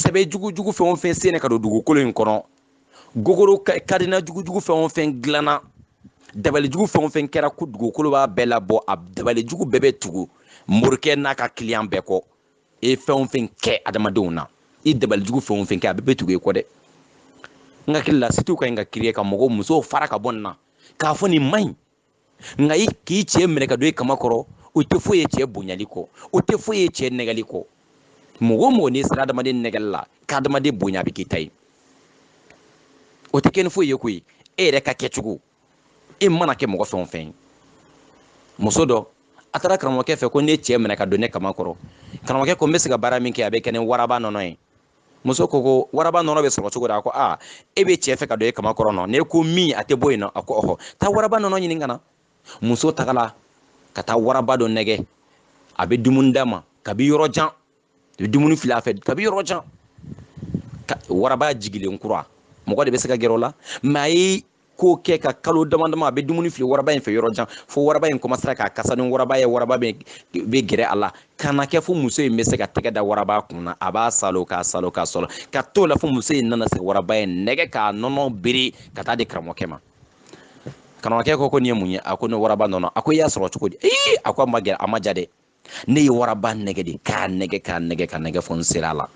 sɛbɛ jugujugu fɛn o fɛn senna ka don dugukolo in kɔnɔ gogoro cadenas jugujugu fɛn o fɛn dilanna dabalijugu fɛn o fɛn kɛra ko dugukolo b'a bɛɛ labɔ a dabalijugu bɛɛ bɛ tugu morikɛ n'a ka client bɛɛ kɔ e fɛn o fɛn kɛ adamadenw na i dabalijugu fɛn o fɛn kɛ a bɛɛ bɛ tugu e kɔ dɛ n hakili la sitew ka ɲi ka créer ka mɔgɔw musow fara ka bɔ nin na k'a fɔ nin man ɲi nka i k'i cɛ minɛ ka don i kama kɔrɔ o tɛ foyi ye cɛ bonyali kɔ o tɛ foyi ye cɛ nɛgɛli kɔ mɔgɔ o mɔgɔ n'i sera adamaden nɛgɛli la k'adamaden bonya a bɛ k'i ta ye o tɛ kɛ ni foyi ye koyi e yɛrɛ ka kɛcogo e mana kɛ mɔgɔ fɛn o fɛn ye muso dɔ a taara karamɔgɔkɛ fɛ ko ne cɛ minɛ ka don ne kama kɔrɔ karamɔgɔkɛ ko n bɛ se ka baara min kɛ a bɛ kɛ ni waraba nɔnɔ ye muso ko ko waraba nɔnɔ bɛ sɔrɔ cogo di a ko aa e bɛ cɛ fɛ ka don e kama kɔrɔ nɔ ne ko min a tɛ bɔ yen nɔ a ko ɔhɔ taa waraba nɔnɔ ɲini ka na muso tagala ka taa waraba dɔ nɛgɛ a bɛ dumuni d'a ma kabi yɔrɔ jan a bɛ dumuni fili a fɛ kabi yɔrɔ jan waraba jigilen kura mɔgɔ de bɛ se ka gɛrɛ o la mɛ a ye k'o kɛ ka kalo dama dama a bɛ dumuni fili waraba in fɛ yɔrɔ jan fo waraba in kɔmasera k'a kasa ni waraba ye waraba bɛ gɛrɛ a la ka na kɛ fo muso in bɛ se ka tɛgɛ da waraba kun na a b'a salo k'a salo k'a sɔrɔ ka t'o la fo muso in nana se waraba in nɛgɛ k'a nɔnɔ biri ka taa di karamɔgɔkɛ ma karamɔgɔkɛ ko ko nin ye mun ye a ko ne waraba nɔnɔ a ko i y'a sɔrɔ cogo di ee a ko a ma gɛrɛ a ma diya dɛ ne ye waraba nɛgɛ de k'a nɛgɛ k'a nɛgɛ k'a nɛgɛ fo n sera a la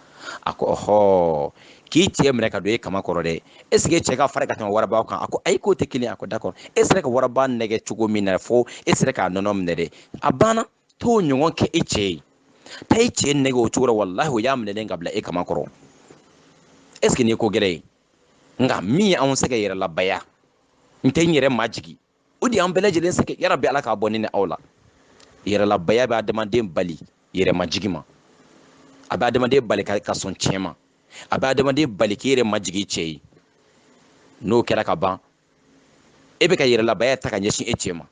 a ko ɔhɔ k'i cɛ minɛ ka don e kama kɔrɔ dɛ est ce que i cɛ ka farin ka tɛmɛ waraba kan a ko ayi k'o tɛ kelen a ko d'accord e sera ka waraba nɛgɛ cogo min na fo e sera k'a nɔnɔ minɛ dɛ a banna t'o ɲɔgɔn kɛ e cɛ ye taa e cɛ nɛgɛ o cogo la walahi o y'a minɛlen ka bila e kama kɔrɔ est ce que nin ye ko gɛlɛn ye nka min ye anw sɛgɛn yɛrɛlabaya n tɛ n yɛrɛ majigi o de y'an bɛɛ lajɛlen sɛgɛn yarabi ala k'a bɔ ne ni aw la yɛrɛlabaya bɛ adamaden bali yɛrɛmajigi ma a bɛ adamaden bali ka sɔn tiɲɛ ma a bɛ adamaden bali k'i yɛrɛ majigin cɛ ye n'o kɛra ka ban e bɛ ka yɛrɛlabaya ta ka ɲɛsin e cɛ ma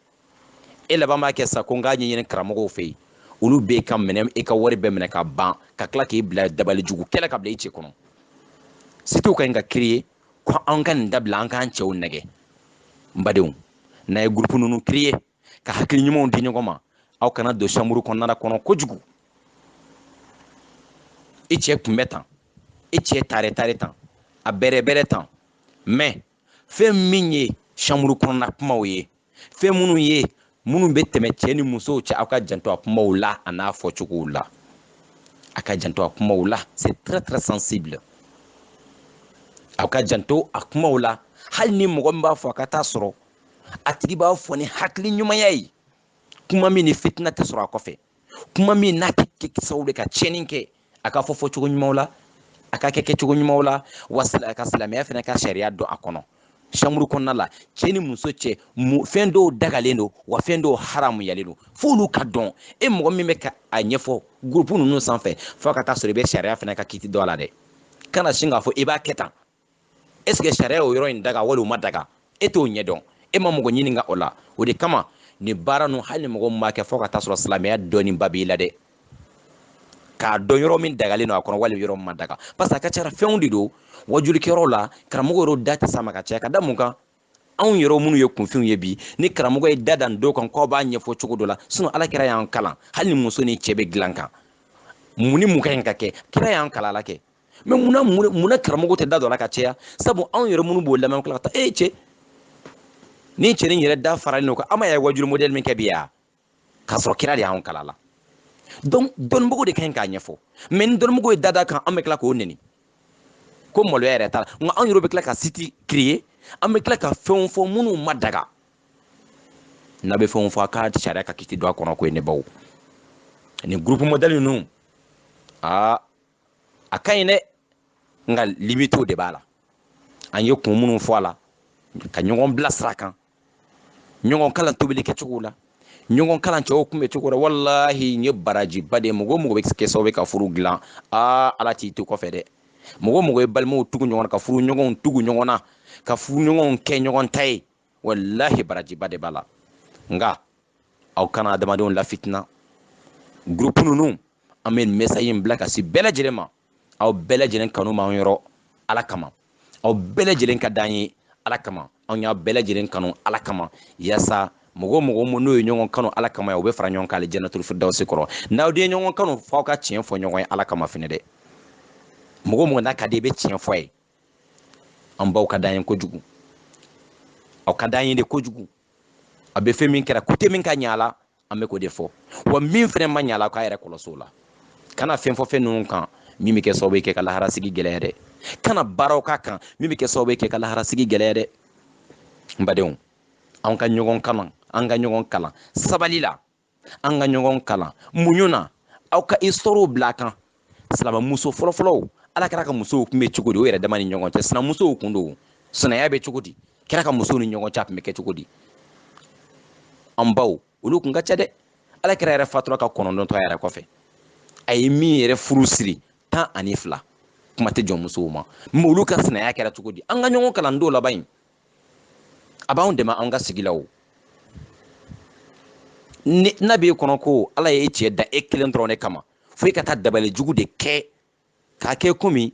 e laban b'a kɛ sa ko n k'a ɲɛɲini karamɔgɔw fɛ yen olu bɛ ka minɛ e ka wari bɛɛ minɛ ka ban ka tila k'i bila dabali jugu kɛlɛ ka bila i cɛ kɔnɔ sitiw ka ɲi ka kiriye ko an ka nin dabila an k'an cɛw nɛgɛ n badenw n'a ye gurupu ninnu kiriye ka hakili ɲumanw di ɲɔgɔn ma aw kana don chambre kɔnɔna kɔnɔ kojugu i cɛ kun bɛ tan i cɛ tare tare tan a bɛrɛ bɛrɛ tan mɛ fɛn min ye chambre kɔnɔna kumaw ye fɛn minnu ye minnu bɛ tɛmɛ cɛ ni musow cɛ aw ka janto a kumaw la a n'a fɔcogow la a ka janto a kumaw la c'est très très sensible aw ka janto a kumaw la hali ni mɔgɔ min b'a fɔ a ka taa sɔrɔ a tigi b'a fɔ ni hakili ɲumanya ye kuma min ni fitina tɛ sɔrɔ a kɔfɛ kuma min n'a tɛ kɛ sababu ye ka tiɲɛni kɛ a ka fɔ fɔcogo ɲumanw la a ka kɛ kɛcogo ɲumanw la wa a ka silamɛya fana ka sariya don a kɔnɔ chambre kɔnɔna la cɛ ni muso cɛ fɛn dɔw dagalen don wa fɛn dɔw haramuyalen don f'olu ka dɔn e mɔgɔ min bɛ ka a ɲɛfɔ gurupu ninnu sanfɛ fo a ka taa sɔrɔ i bɛ sariya fana ka kiti dɔn a la dɛ kana sin k'a fɔ i b'a kɛ tan est ce que sariya y'o yɔrɔ in daga wali o ma daga e t'o ɲɛdɔn e ma mɔgɔ ɲininka o la o de kama nin baara nu hali ni mɔgɔ min b'a kɛ fo ka t'a sɔrɔ silamɛya dɔnniba b'i la dɛ k'a dɔn yɔrɔ min dagalen don a kɔnɔ wali yɔrɔ min ma daga parce que a ka cara fɛnw de don wajulikɛyɔrɔ la karamɔgɔ yɛrɛw da tɛ s'a ma ka caya ka da mun kan anw yɛrɛ minnu ye kunfinw ye bi ni karamɔgɔ ye da da dɔ kan k'aw b'a ɲɛfɔ cogo dɔ la sinon ala kira y'an kalan hali ni muso ni cɛ bɛ dilan kan mun ni mun ka ɲi ka kɛ kira y'an kalan a la kɛ mais munna karamɔgɔ tɛ da d'o la ka caya sabu anw yɛrɛ minnu b'o lamɛn tila ka taa e cɛ nin cɛnin yɛrɛ da faralen don kan a ma y'a wajuli modèle min kɛ bi ya k'a sɔrɔ kira de y'an kalan a la donc dɔnnibagaw de ka ɲi k'a ɲɛfɔ mais ni dɔnnibagaw ye da d'a kan an bɛ tila k'o neni ko maloya yɛrɛ t'a la nka anw yɛrɛ bɛ tila ka site créer an bɛ tila ka fɛnw fɔ minnu ma daga n'a bɛ fɛnw fɔ a ka sariya ka kiti don a kɔnɔ ko ye ne baw nin groupe modèle ninnu aa a ka ɲi dɛ nka limitew de b'a la an ye kun minnu fɔ a la ka ɲɔgɔn bilasira kan ɲɔgɔn kalan tobili kɛcogo la ɲɔgɔn kalan cɛw kunbɛcogo la walahi nin ye barajiba de ye mɔgɔ mɔgɔ bɛ kɛ sababu ye ka furu dilan aa ala t'i to kɔfɛ dɛ mɔgɔ mɔgɔ ye balimaw tugu ɲɔgɔn na ka furuɲɔgɔnw tugu ɲɔgɔn na ka furuɲɔgɔnw kɛ ɲɔgɔn ta ye walahi barajiba de b'a la nka aw kana adamadenw lafitina groupe ninnu an bɛ nin message in bila ka se bɛɛ lajɛlen ma aw bɛɛ lajɛlen kanu b'an yɔrɔ ala kama aw bɛɛ lajɛlen ka d'an ye ala kama anw y'aw bɛɛ lajɛlen kanu ala kama yasa mɔgɔ mɔgɔ minnu ye ɲɔgɔn kanu ala kama ye u bɛ fara ɲɔgɔn kan alijanatul firdawsi kɔnɔ n'aw de ye ɲɔgɔn kanu f'aw ka tiɲɛ fɔ ɲɔgɔn ye ala kama fɛnɛ dɛ mɔgɔ mɔgɔ n'a ka di i bɛ tiɲɛ fɔ a ye an baw ka d'an ye kojugu aw ka d'an ye de kojugu a bɛ fɛn min kɛra côté min ka ɲi a la an bɛ k'o de fɔ wa min fɛnɛ man ɲ'a la k'a yɛrɛ kɔlɔsi o la kana fɛn fɔ fɛn ninnu kan min bɛ kɛ sababu ye k'e ka laharasigi gɛlɛya dɛ kana baaraw k'a kan min bɛ kɛ sababu ye k'e ka laharasigi gɛlɛya dɛ n badenw an ka ɲɔgɔn kalan an ka ɲɔgɔn kalan sabali la an ka ɲɔgɔn kalan muɲu na aw ka histoirew bila a kan silamɛmuso fɔlɔfɔlɔw ala kira ka musow kun bɛ cogo di o yɛrɛ dama ni ɲɔgɔn cɛ sinamusow kun don sinaya bɛ cogo di kira ka musow ni ɲɔgɔn cɛ a tun bɛ kɛ cogo di an baw olu kun ka ca dɛ ala kira yɛrɛ fatura ka kɔnɔntɔn to a yɛrɛ kɔfɛ a ye min yɛrɛ furu siri tan ani fila kuma tɛ jɔnmusow ma mais olu ka sinaya kɛra cogo di an ka ɲɔgɔn kalan don laban in a b'anw dɛmɛ an ka sigi la o n'a b'e kɔnɔ ko ala ye e cɛ da e kelen dɔrɔn de kama fo i ka taa dabali jugu de kɛ k'a kɛ komi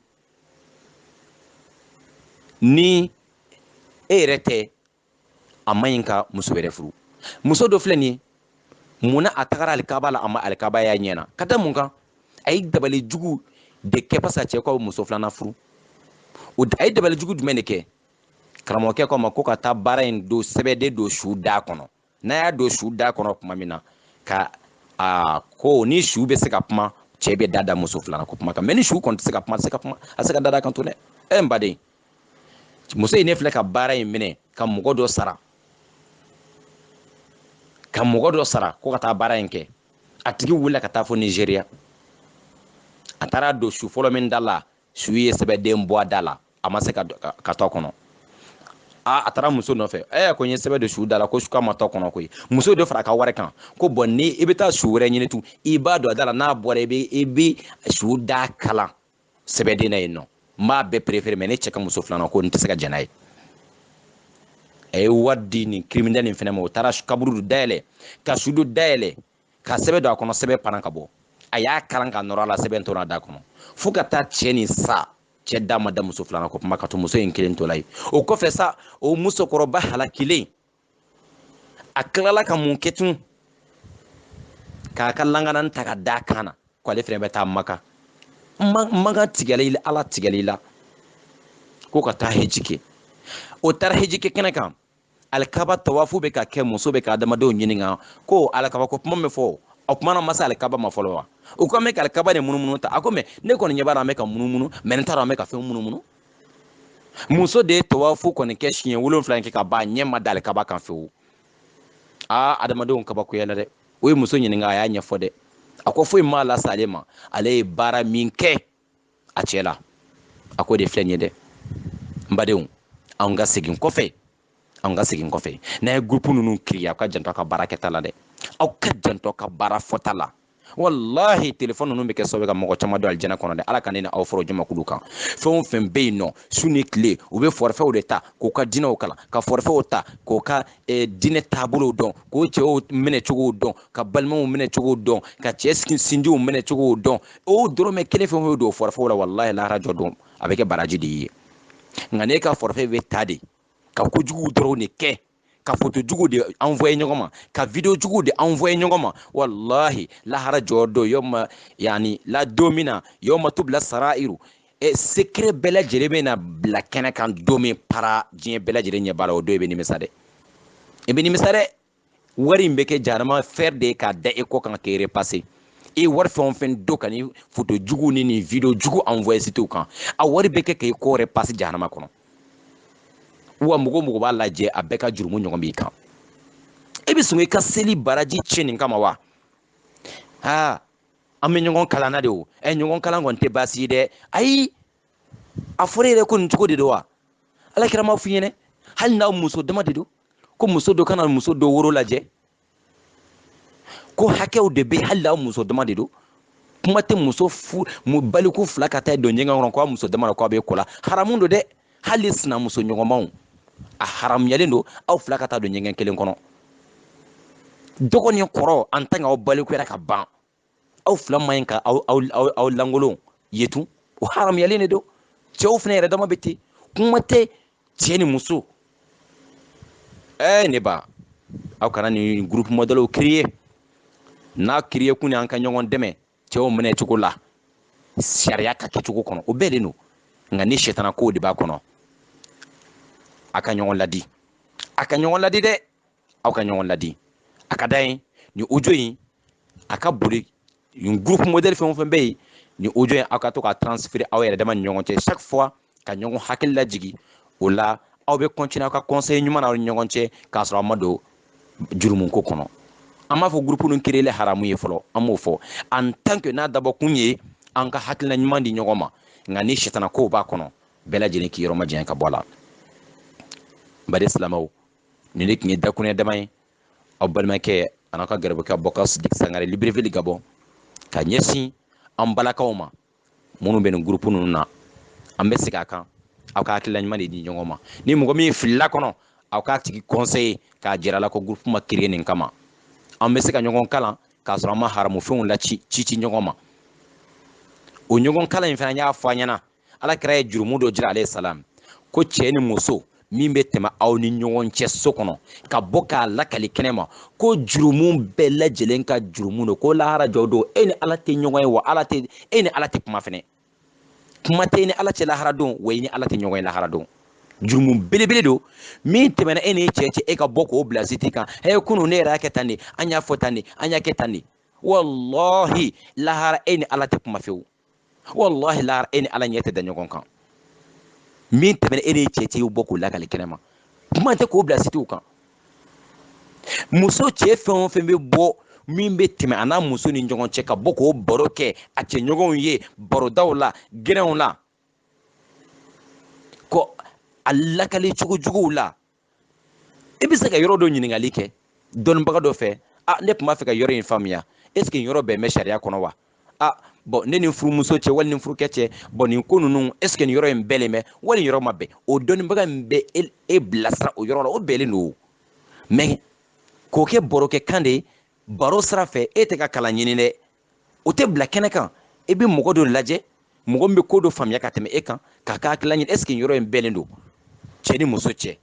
ni e yɛrɛ tɛ a man ɲi ka muso wɛrɛ furu muso dɔ filɛ nin ye mun na a tagara alikaba la a ma alikaba y'a ɲɛ na ka da mun kan a ye dabali jugu de kɛ parce que a cɛ ko a bɛ muso filanan furu a ye dabali jugu jumɛn de kɛ karamɔgɔkɛ k'a ma ko ka taa baara in don sɛbɛden don su da kɔnɔ n'a y'a don su da kɔnɔ tuma min na ka a ko ni su bɛ se ka kuma cɛ bɛ da da muso filanan ko kuma kan mɛ ni su kɔni tɛ se ka kuma a tɛ se ka kuma a tɛ se ka da da kan tun dɛ ɛ n baden muso in ne filɛ ka baara in minɛ ka mɔgɔ dɔ sara ka mɔgɔ dɔ sara ko ka taa baara in kɛ a tigi wulila ka taa fo nizeriya a taara don su fɔlɔ min da la su ye sɛbɛden bɔ a da la a ma se ka to kɔnɔ aa a taara muso nɔfɛ ɛ ko n ye sɛbɛn don su da la ko nka a ma to kɔnɔ koyi muso dɔ fara a ka wari kan ko bɔn ni i bɛ taa su wɛrɛ ɲini tun i b'a don a da la n'a bɔra i bɛ i bɛ su da kalan sɛbɛden na yen nɔ n b'a bɛɛ perefere mɛ ne cɛ ka muso filanan ko n tɛ se ka jɛn n'a ye a ye wari di nin criminel nin fɛnɛ ma o taara kaburu dayɛlɛ ka su dɔ da yɛlɛ ka sɛbɛn don a kɔnɔ sɛbɛn panna ka bɔ a y'a kalan ka nɔrɔ a la sɛbɛn tora a da kɔnɔ fo ka taa cɛ nin sa cɛ da ma da muso filanan ko kuma kan tun muso in kelen tola ye o kɔfɛ sa o musokɔrɔba halakilen a tilala ka mun kɛ tun k'a ka langanan ta ka da kan na ko ale fɛnɛ bɛ taa maka maka tigɛli ala tigɛli la ko ka taa heji kɛ o taara heji kɛ kɛnɛ kan alikaba tawafu bɛ ka kɛ muso bɛ ka adamadenw ɲininka ko alikaba ko kuma min fɔ o kuma na an ma se alikaba ma fɔlɔ wa u ko an bɛ ka alikaba de munumunu tan a ko mɛ ne kɔni ɲɛ b'a la an bɛ ka munumunu mɛ ne t'a dɔn an bɛ ka fɛn min munumunu muso de ye tawafu kɔni kɛ siɲɛ wolonfila in kɛ ka ban ɲɛ ma da alikaba kan fewu aa adamadenw kabakoyala dɛ o ye muso ɲininka a y'a ɲɛfɔ dɛ a ko foyi m'a lase ale ma ale ye baara min kɛ a cɛ la a ko de filɛ nin ye dɛ n badenw anw ka segin kɔfɛ anw ka segin kɔfɛ n'aw ye gurupu ninnu créer aw ka janto aw ka baara kɛta la dɛ aw ka janto ka baara fɔta la walahi telefɔni ninnu bɛ kɛ sababu ka mɔgɔ caman don alijana kɔnɔ dɛ ala ka ne ni aw fara o jamakulu kan fɛn o fɛn bɛ yen nɔ su ni tile u bɛ fɔrifɛw de ta k'u ka dinɛw kalan ka fɔrifɛw ta k'u ka eh, dinɛ taabolow dɔn k'u cɛw minɛ cogow dɔn ka balimaw minɛ cogow dɔn ka cɛ sinjiw minɛ cogow dɔn o dɔrɔmɛ kelen fɛn o fɛn don fɔrifɛ la walahi lahara jɔ don a bɛ kɛ baraji de ye nka n'e ka fɔrifɛ bɛ ta de ka kojugu dɔrɔn de kɛ ka foto jugu de envoyé ɲɔgɔn ma ka video jugu de envoyé ɲɔgɔn ma walahi lahara jɔ don yɔma yani la don min na yɔma tubila sarairu e secret bɛɛ lajɛlen bɛ na bila kɛnɛ kan don min para diɲɛ bɛɛ lajɛlen ɲɛ b'a la o don i bɛ nimisa dɛ i bɛ nimisa dɛ wari in bɛ kɛ jahanama fɛrɛ de ye k'a da e kɔ kan k'e repasser e ye wari fɛn o fɛn don ka nin foto jugu ni nin video jugu envoyer sitew kan a wari bɛ kɛ k'e kɔ repasser jahanama kɔnɔ wa mɔgɔ o mɔgɔ b'a lajɛ a bɛɛ ka jurumu ɲɔgɔn b'i kan e bɛ sɔn i ka seli baraji tiɲɛ nin kama wa aa an bɛ ɲɔgɔn kalan na de o ɛ ɲɔgɔn kalan kɔni tɛ baasi ye dɛ ayi a fɔra yɛrɛ ko nin cogo de don wa ala kira m'a f'i ɲɛna hali n'aw muso dama de don ko muso dɔ kana muso dɔ woro lajɛ ko hakɛw de bɛ hali n'aw muso dama de don kuma tɛ muso fu mu baliku fila ka taa don ɲɛgɛn kɔnɔ k'a muso dama na k'a bɛ ko la haramu don dɛ hali sinamuso ɲɔgɔnmaw a haramuyalen don aw fila ka taa don ɲɛgɛn kelen kɔnɔ dɔgɔ ni kɔrɔ en tant que aw balikuyara ka ban aw fila man ɲi ka aw aw aw aw lankolon ye tun o haramuyalen de don cɛw fana yɛrɛ dama bɛ ten kuma tɛ cɛ ni muso ɛɛ ne ba aw kana nin groupe modèlew créer n'a créer kun y'an ka ɲɔgɔn dɛmɛ cɛw minɛ cogo la sariya ka kɛcogo kɔnɔ o bɛnnen don nka ni sɛtana kow de b'a kɔnɔ a ka ɲɔgɔn ladi a ka ɲɔgɔn ladi dɛ aw ka ɲɔgɔn ladi a ka da yen nin audio in a ka boli nin groupe modèle fɛn o fɛn bɛ yen nin audio in aw ka to k'a transférer aw yɛrɛ dama ni ɲɔgɔn cɛ chaque fois ka ɲɔgɔn hakili lajigin o la aw bɛ continuer aw ka conseil ɲuman na aw ni ɲɔgɔn cɛ k'a sɔrɔ aw ma don jurumuko kɔnɔ an m'a fɔ groupe ninnu créer haramu ye fɔlɔ an m'o fɔ en tant que n'a dabɔ kun ye an ka hakilina ɲuman di ɲɔgɔn ma nka ni sitana kow b'a kɔnɔ bɛɛ lajɛlen k'i yɔrɔ majanya ka bɔ a la n baden silamɛw nin de tun ye dakuruɲɛ dama ye aw balimakɛ an'aw ka garibukɛ abubakar sidiki sangare libreville gabon ka ɲɛsin an balakaw ma minnu bɛ nin groupe ninnu na an bɛ segin a kan aw ka hakilila ɲuman de di ɲɔgɔn ma ni mɔgɔ min filila kɔnɔ aw k'a tigi conseiller k'a jira a la ko groupe ma créer nin kama an bɛ se ka ɲɔgɔn kalan k'a sɔrɔ an ma haramufɛnw la ci ci ci ɲɔgɔn ma o ɲɔgɔn kalan in fana y'a fɔ an ɲɛna ala kira ye jurumu dɔ jira alayhi salam ko cɛ ni muso min bɛ tɛmɛ aw ni ɲɔgɔn cɛ so kɔnɔ ka bɔ k'a lakali kɛnɛ ma ko jurumu bɛɛ lajɛlen ka jurumu don ko lahara jɔ don e ni ala tɛ ɲɔgɔn ye wa ala tɛ e ni ala tɛ kuma fɛnɛ kuma tɛ e ni ala cɛ lahara don wa i ni ala tɛ ɲɔgɔn ye lahara don jurumu belebele don min tɛmɛna e ni cɛ cɛ e ka bɔ k'o bila siti kan hɛ kunu ne yɛrɛ y'a kɛ tan de an y'a fɔ tan de an y'a kɛ tan de walahi lahara e ni ala tɛ kuma fewu walahi lahara e ni ala ɲɛ tɛ da ɲɔgɔn kan min tɛmɛna e n'i cɛ cɛ i bɔ k'o lakali kɛnɛ ma kuma tɛ k'o bila sitiw kan muso cɛ fɛn o fɛn bɛ bɔ min bɛ tɛmɛ a n'a muso ni ɲɔgɔn cɛ ka bɔ k'o baro kɛ a cɛɲɔgɔnw ye barodaw la gɛrɛnw la ko a lakali cogo juguw la i bɛ se ka yɔrɔ dɔ ɲininkali kɛ dɔnnibaga dɔ fɛ a ne tun b'a fɛ ka yɔrɔ in faamuya est ce que nin yɔrɔ bɛn bɛ sariya kɔnɔ wa a bɔn ne ni furumuso cɛ wali ni furukɛ cɛ bɔn nin ko ninnu est ce que nin yɔrɔ in bɛnnen bɛ wali nin yɔrɔ ma bɛn o dɔnnibaga in bɛ e bilasira o yɔrɔ la o bɛnnen don mais k'o kɛ barokɛ kan de baro sira fɛ e tɛ ka kalan ɲini dɛ o tɛ bila kɛnɛ kan i bɛ mɔgɔ dɔ lajɛ mɔgɔ min bɛ ko dɔ faamuya ka tɛmɛ e kan k'a ka hakilila ɲini est ce que yɔrɔ in bɛnnen don cɛ ni muso cɛ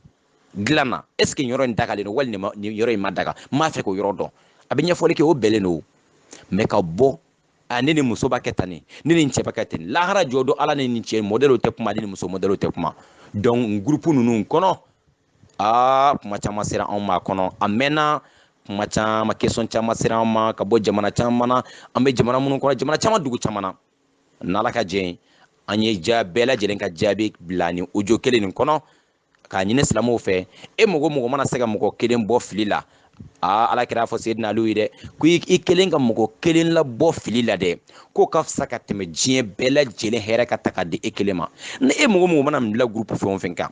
dilan na est ce que yɔrɔ in dagalen don wali nin yɔrɔ in ma daga n b'a fɛ k'o yɔrɔ dɔn a bɛ ɲɛfɔli kɛ o bɛnnen don mais ka bɔ a ne ni muso b'a kɛ tan nin ne ni cɛ b'a kɛ ten lahara jɔ don ala ni nin cɛ mɔdɛliw tɛ kuma ni muso mɔdɛliw tɛ kuma donc groupe ninnu kɔnɔ aa kuma caman sera anw ma kɔnɔ a mɛnna kuma caman question caman sera anw ma ka bɔ jamana caman na an bɛ jamana minnu kɔnɔ jamana caman dugu caman na n'ala ka jɛ an ye ja bɛɛ lajɛlen ka jaabi bila nin audio kelen nin kɔnɔ k'a ɲini silamɛw fɛ e mɔgɔ mɔgɔ mana se ka mɔgɔ kelen bɔ fili la aa ala kira fɔ seyidina aliw ye dɛ ko i kelen ka mɔgɔ kelen labɔ fili la dɛ k'o ka fisa ka tɛmɛ diɲɛ bɛɛ lajɛlen hɛrɛ ka ta ka di e kelen ma ni e mɔgɔ mɔgɔ mana bila gurupu fɛn o fɛn kan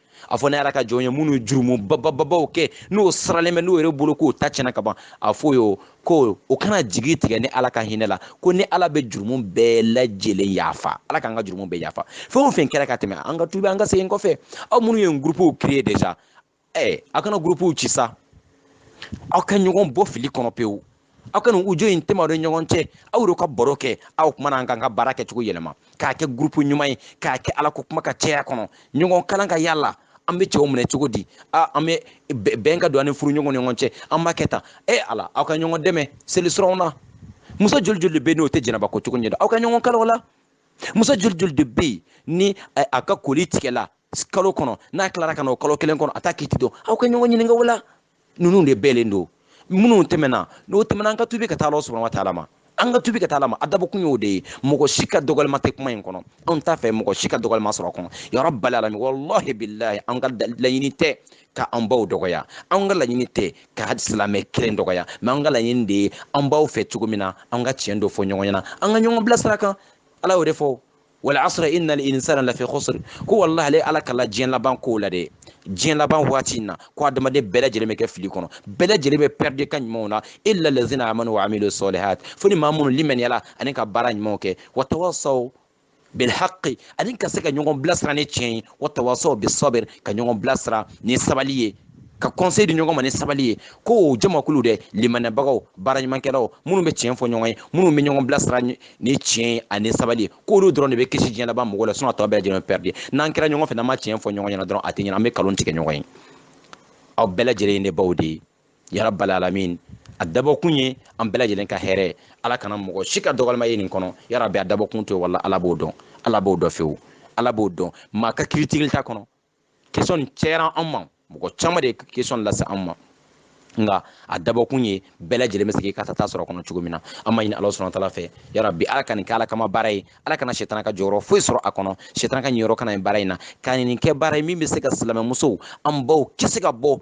a fɔ ne ala ka jɔn ye minnu jurumu babababaw kɛ n'o siralen bɛ n'o yɛrɛ bolo k'o ta tiɲɛna ka ban a fɔ yo ko o kana jigi tigɛ ni ala ka hinɛ la ko ni ala bɛ jurumu bɛɛ lajɛlen yafa ala k'an ka jurumu bɛɛ yafa fɛn o fɛn kɛra ka tɛmɛ an ka tubi an ka segin kɔfɛ aw minnu ye gurupuw créer déjà ɛ a kana gurupuw ci sa aw ka ɲɔgɔn bɔ fili kɔnɔ pewu aw ka nin audio in tɛmɛ de ɲɔgɔn cɛ aw de ka baro kɛ aw kuma na an kan ka baara kɛcogo yɛlɛma k'a kɛ gurupu ɲuman ye k'a kɛ ala ko kuma ka caya kɔnɔ ɲɔgɔn kalan ka yala an bɛ cɛw minɛ cogo di a an bɛ bɛn ka don an ni furu ɲɔgɔn ni ɲɔgɔn cɛ an b'a kɛ tan e ala aw ka ɲɔgɔn dɛmɛ seli siraw na muso joli joli de bɛ yen n'o tɛ janaba ko cogo ɲɛ dɔn aw ka ɲɔgɔn kalan o la muso joli joli de bɛ yen ni a ka koli tigɛla kalo kɔnɔ n'a tilara ka na o kalo kelen kɔnɔ a t'a kiti dɔn aw ka ɲɔgɔn ɲininka o la ninnu de bɛnnen don minnu tɛmɛna n'o tɛmɛna an ka tubi ka taa ala subahana wa taala ma an ka tubi ka taa ala ma a dabɔkun y'o de ye mɔgɔ si ka dɔgɔlima tɛ kuma in kɔnɔ anw t'a fɛ mɔgɔ si ka dɔgɔlima sɔrɔ a kɔnɔ ya rabbal alamin walahi bilahi an ka laɲini tɛ ka an baw dɔgɔya an ka laɲini tɛ ka silamɛ kelen dɔgɔya mais an ka laɲini de ye an baw fɛ cogo min na an ka tiɲɛ dɔ fɔ ɲɔgɔn ɲɛna an ka ɲɔgɔn bilasira kan ala y'o de fɔ wal asra innal insana lafi khusr ko wallahi ale ala kalila diɲɛ laban kow la dɛ diɲɛ laban waati in na ko adamaden bɛɛ lajɛlen bɛ kɛ fili kɔnɔ bɛɛ lajɛlen bɛ pɛridi ka ɲumanw na illa lazina amanu wa amilu salihat fo ni maa minnu limaniyala ani ka baara ɲumanw kɛ wa tawasaw bilhaqi ani ka se ka ɲɔgɔn bilasira ni tiɲɛ ye wa tawasaw bisabir ka ɲɔgɔn bilasira ni sabali ye ka conseil di ɲɔgɔn ma ni sabali ye ko o jamakulu dɛ limaniyabagaw baaraɲumankɛlaw minnu bɛ tiɲɛ fɔ ɲɔgɔn ye minnu bɛ ɲɔgɔn bilasira ni tiɲɛ ye ani sabali k'olu dɔrɔn de bɛ kisi diɲɛ laban mɔgɔw la sinɔn a tɔ bɛɛ lajɛlen pɛridi n'an kɛra ɲɔgɔn fɛ n'an ma tiɲɛ fɔ ɲɔgɔn ɲɛna dɔrɔn a tɛ ɲɛna an bɛ kalon tigɛ ɲɔgɔn ye aw bɛɛ lajɛlen ye ne baw de ye yarabal alamin a dabɔkun ye an bɛɛ lajɛlen ka hɛrɛ ala kana mɔgɔ si ka dɔgɔlima ye nin kɔnɔ yarabi a dabɔkun to ye wala ala b'o dɔn ala b'o dɔn fewu ala b'o dɔn maa ka kiiritigɛli t'a kɔnɔ kesiyɔn nin cɛyara an ma mɔgɔ caman de ye kesiyɔn lase an ma nka a dabɔkun ye bɛɛ lajɛlen bɛ se k'i ka tata sɔrɔ a kɔnɔ cogo min na an b'a ɲini ala subahana wa taala fɛ yarabi ala ka nin kɛ ala kama baara ye ala kana sɛtana ka jɔyɔrɔ foyi sɔrɔ a kɔnɔ sɛtana ka niyɔrɔ kana ye baara in na ka nin kɛ baara ye min bɛ se ka silamɛmusow an baw kisi ka bɔ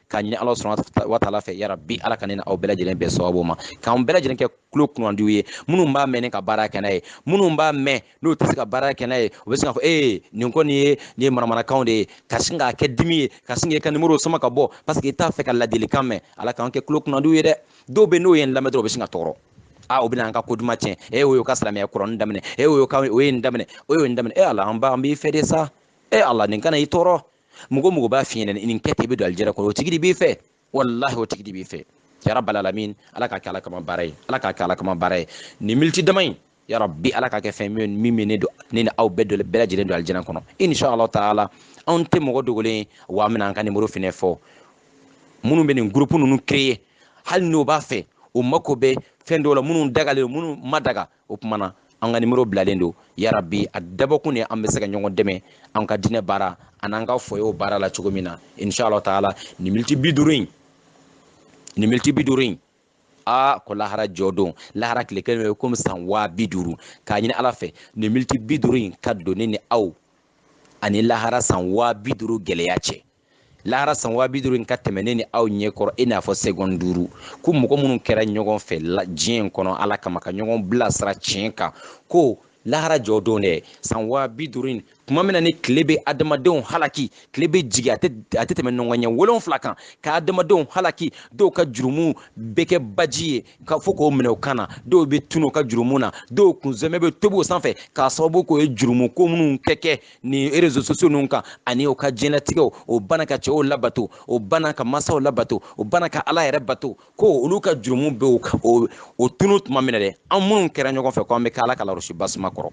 k'a ɲini ala subahana wa taala fɛ yarabi ala ka ne ni aw bɛɛ lajɛlen bɛn sababu ma k'an bɛɛ lajɛlen kɛ tulo kunandiw ye minnu b'a mɛn ni ka baara kɛ n'a ye minnu b'a mɛn n'u tɛ se ka baara kɛ n'a ye u bɛ se k'a fɔ ee nin kɔni ye nin ye manamanakanw de ye ka sin k'a kɛ dimi ye ka sin k'i ka nimoro sama ka bɔ paseke i t'a fɛ ka ladilikan mɛn ala k'an kɛ tulo kunandiw ye dɛ dɔw bɛ n'o ye n lamɛn dɔrɔn u bɛ sin ka tɔɔrɔ a ah, o bɛna an ka ko duman tiɲɛ e eh, o y'o ka silamɛya kɔrɔnin daminɛ e eh, o y'o ka o ye nin daminɛ o y'o nin daminɛ e ala an ba an b'i fɛ de sa e ala nin kana i tɔɔrɔ mɔgɔ mɔgɔ b'a f'i ɲɛna nin kɛ ten i bɛ don alijɛnɛ kɔnɔ o tigi de b'i fɛ walahi o tigi de b'i fɛ yarabal alamin ala k'a kɛ ala kama baara ye ala k'a kɛ ala kama baara ye nin miniti dama in yarabi ala k'a kɛ fɛn min bɛ ne don ne ni aw bɛɛ dɔ bɛɛ lajɛlen don alijɛnɛ kɔnɔ inshallah taala anw tɛ mɔgɔ dogolen ye wa an bɛna an ka nimoro fɛnɛ fɔ minnu bɛ nin gurupu ninnu créer hali n'o b'a fɛ o mako bɛ fɛn dɔw la minnu dagalen minnu ma daga o tuma na an ka nimoro bilalen don yarabi a dabɔkun de an bɛ se ka ɲɔgɔn dɛmɛ an ka diinɛ baara an'an ka foyew baara la cogo min na inshallah taala nin miniti bi duuru in nin miniti bi duuru in aa ko lahara jɔ don lahara tile kelen bɛ komi san waa bi duuru k'a ɲini ala fɛ nin miniti bi duuru in ka don ne ni aw ani lahara san waa bi duuru gɛlɛya cɛ lahara san waa bi duuru in ka tɛmɛ ne ni aw ɲɛ kɔrɔ i n'a fɔ segɔn duuru ko mɔgɔ minnu kɛra ɲɔgɔn fɛ diɲɛ in kɔnɔ ala kama ka ɲɔgɔn bilasira tiɲɛ kan ko lahara jɔ don dɛ san waa bi duuru in tuma min na ni tile bɛ adamadenw halaki tile bɛ jigi a tɛ tɛmɛ nɔngɔn ɲɛ wolonfila kan ka adamadenw halaki dɔw ka jurumu bɛ kɛ baji ye fo k'o minɛ o kan na dɔw bɛ tunu u ka jurumu na dɔw kunzɛmɛ bɛ tobi o sanfɛ k'a sababu k'o ye jurumu ko minnu kɛ kɛ nin rezo sosiyo ninnu kan ani u ka diɲɛlatigɛw o bana ka cɛw labato o bana ka masaw labato o bana ka ala yɛrɛ bato ko olu ka jurumu bɛ o o tunu tuma min na dɛ an minnu kɛra ɲɔgɔn fɛ ko an bɛ kɛ ala ka larosiba suma kɔrɔ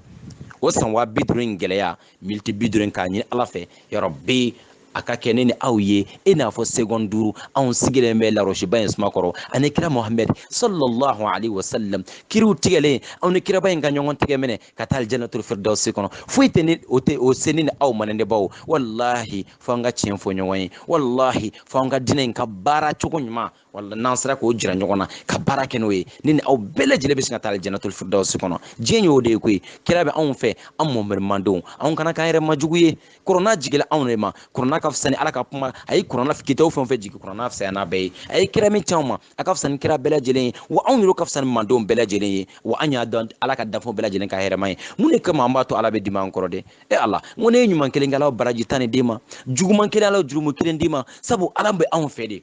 o san waa bi duuru in gɛlɛya miniti bi duuru in k'a ɲini ala fɛ yarabi a ka kɛ ne ni aw ye i n'a fɔ segɔn duuru anw sigilen bɛ larosiba in suma kɔrɔ ani kira mohamɛd sallallahu alaihi wasallam kiiriw tigɛlen anw ni kiraba in ka ɲɔgɔn tigɛ minɛ ka taa alijanatul firdausi kɔnɔ foyi tɛna o se ne ni aw ma ne baw walahi fo an ka tiɲɛ fɔ ɲɔgɔn ye walahi fo an ka diinɛ in ka baara cogo ɲuman wala n'an sera k'o jira ɲɔgɔn na ka baara kɛ n'o ye ne ni aw bɛɛ lajɛlen bɛ se ka taa janatuli firidawusi kɔnɔ diɲɛ y'o de ye koyi kira bɛ anw fɛ an mɔhamɛdi mandenw anw kana k'an yɛrɛ ma jugu ye kurana jigila anw de ma kurana ka fisa ni ala ka kuma a ye kurana kitabu fɛn o fɛn jigin kurana fisaya n'a bɛɛ ye a ye kira min c'anw ma a ka fisa ni kira bɛɛ lajɛlen ye wa anw yɛrɛ ka fisa ni mandenw bɛɛ lajɛlen ye wa an y'a dɔn ala ka danfɛnw bɛɛ lajɛlen ka hɛrɛma ye mun de kama an b'a to ala bɛ dimi an kɔrɔ dɛ e ala n ko n'e ye ɲuman kelen kɛ ala b'o baraji tan ni d'i ma juguman kelen ala b'o jurumu kelen d'i ma sabu ala bɛ anw fɛ de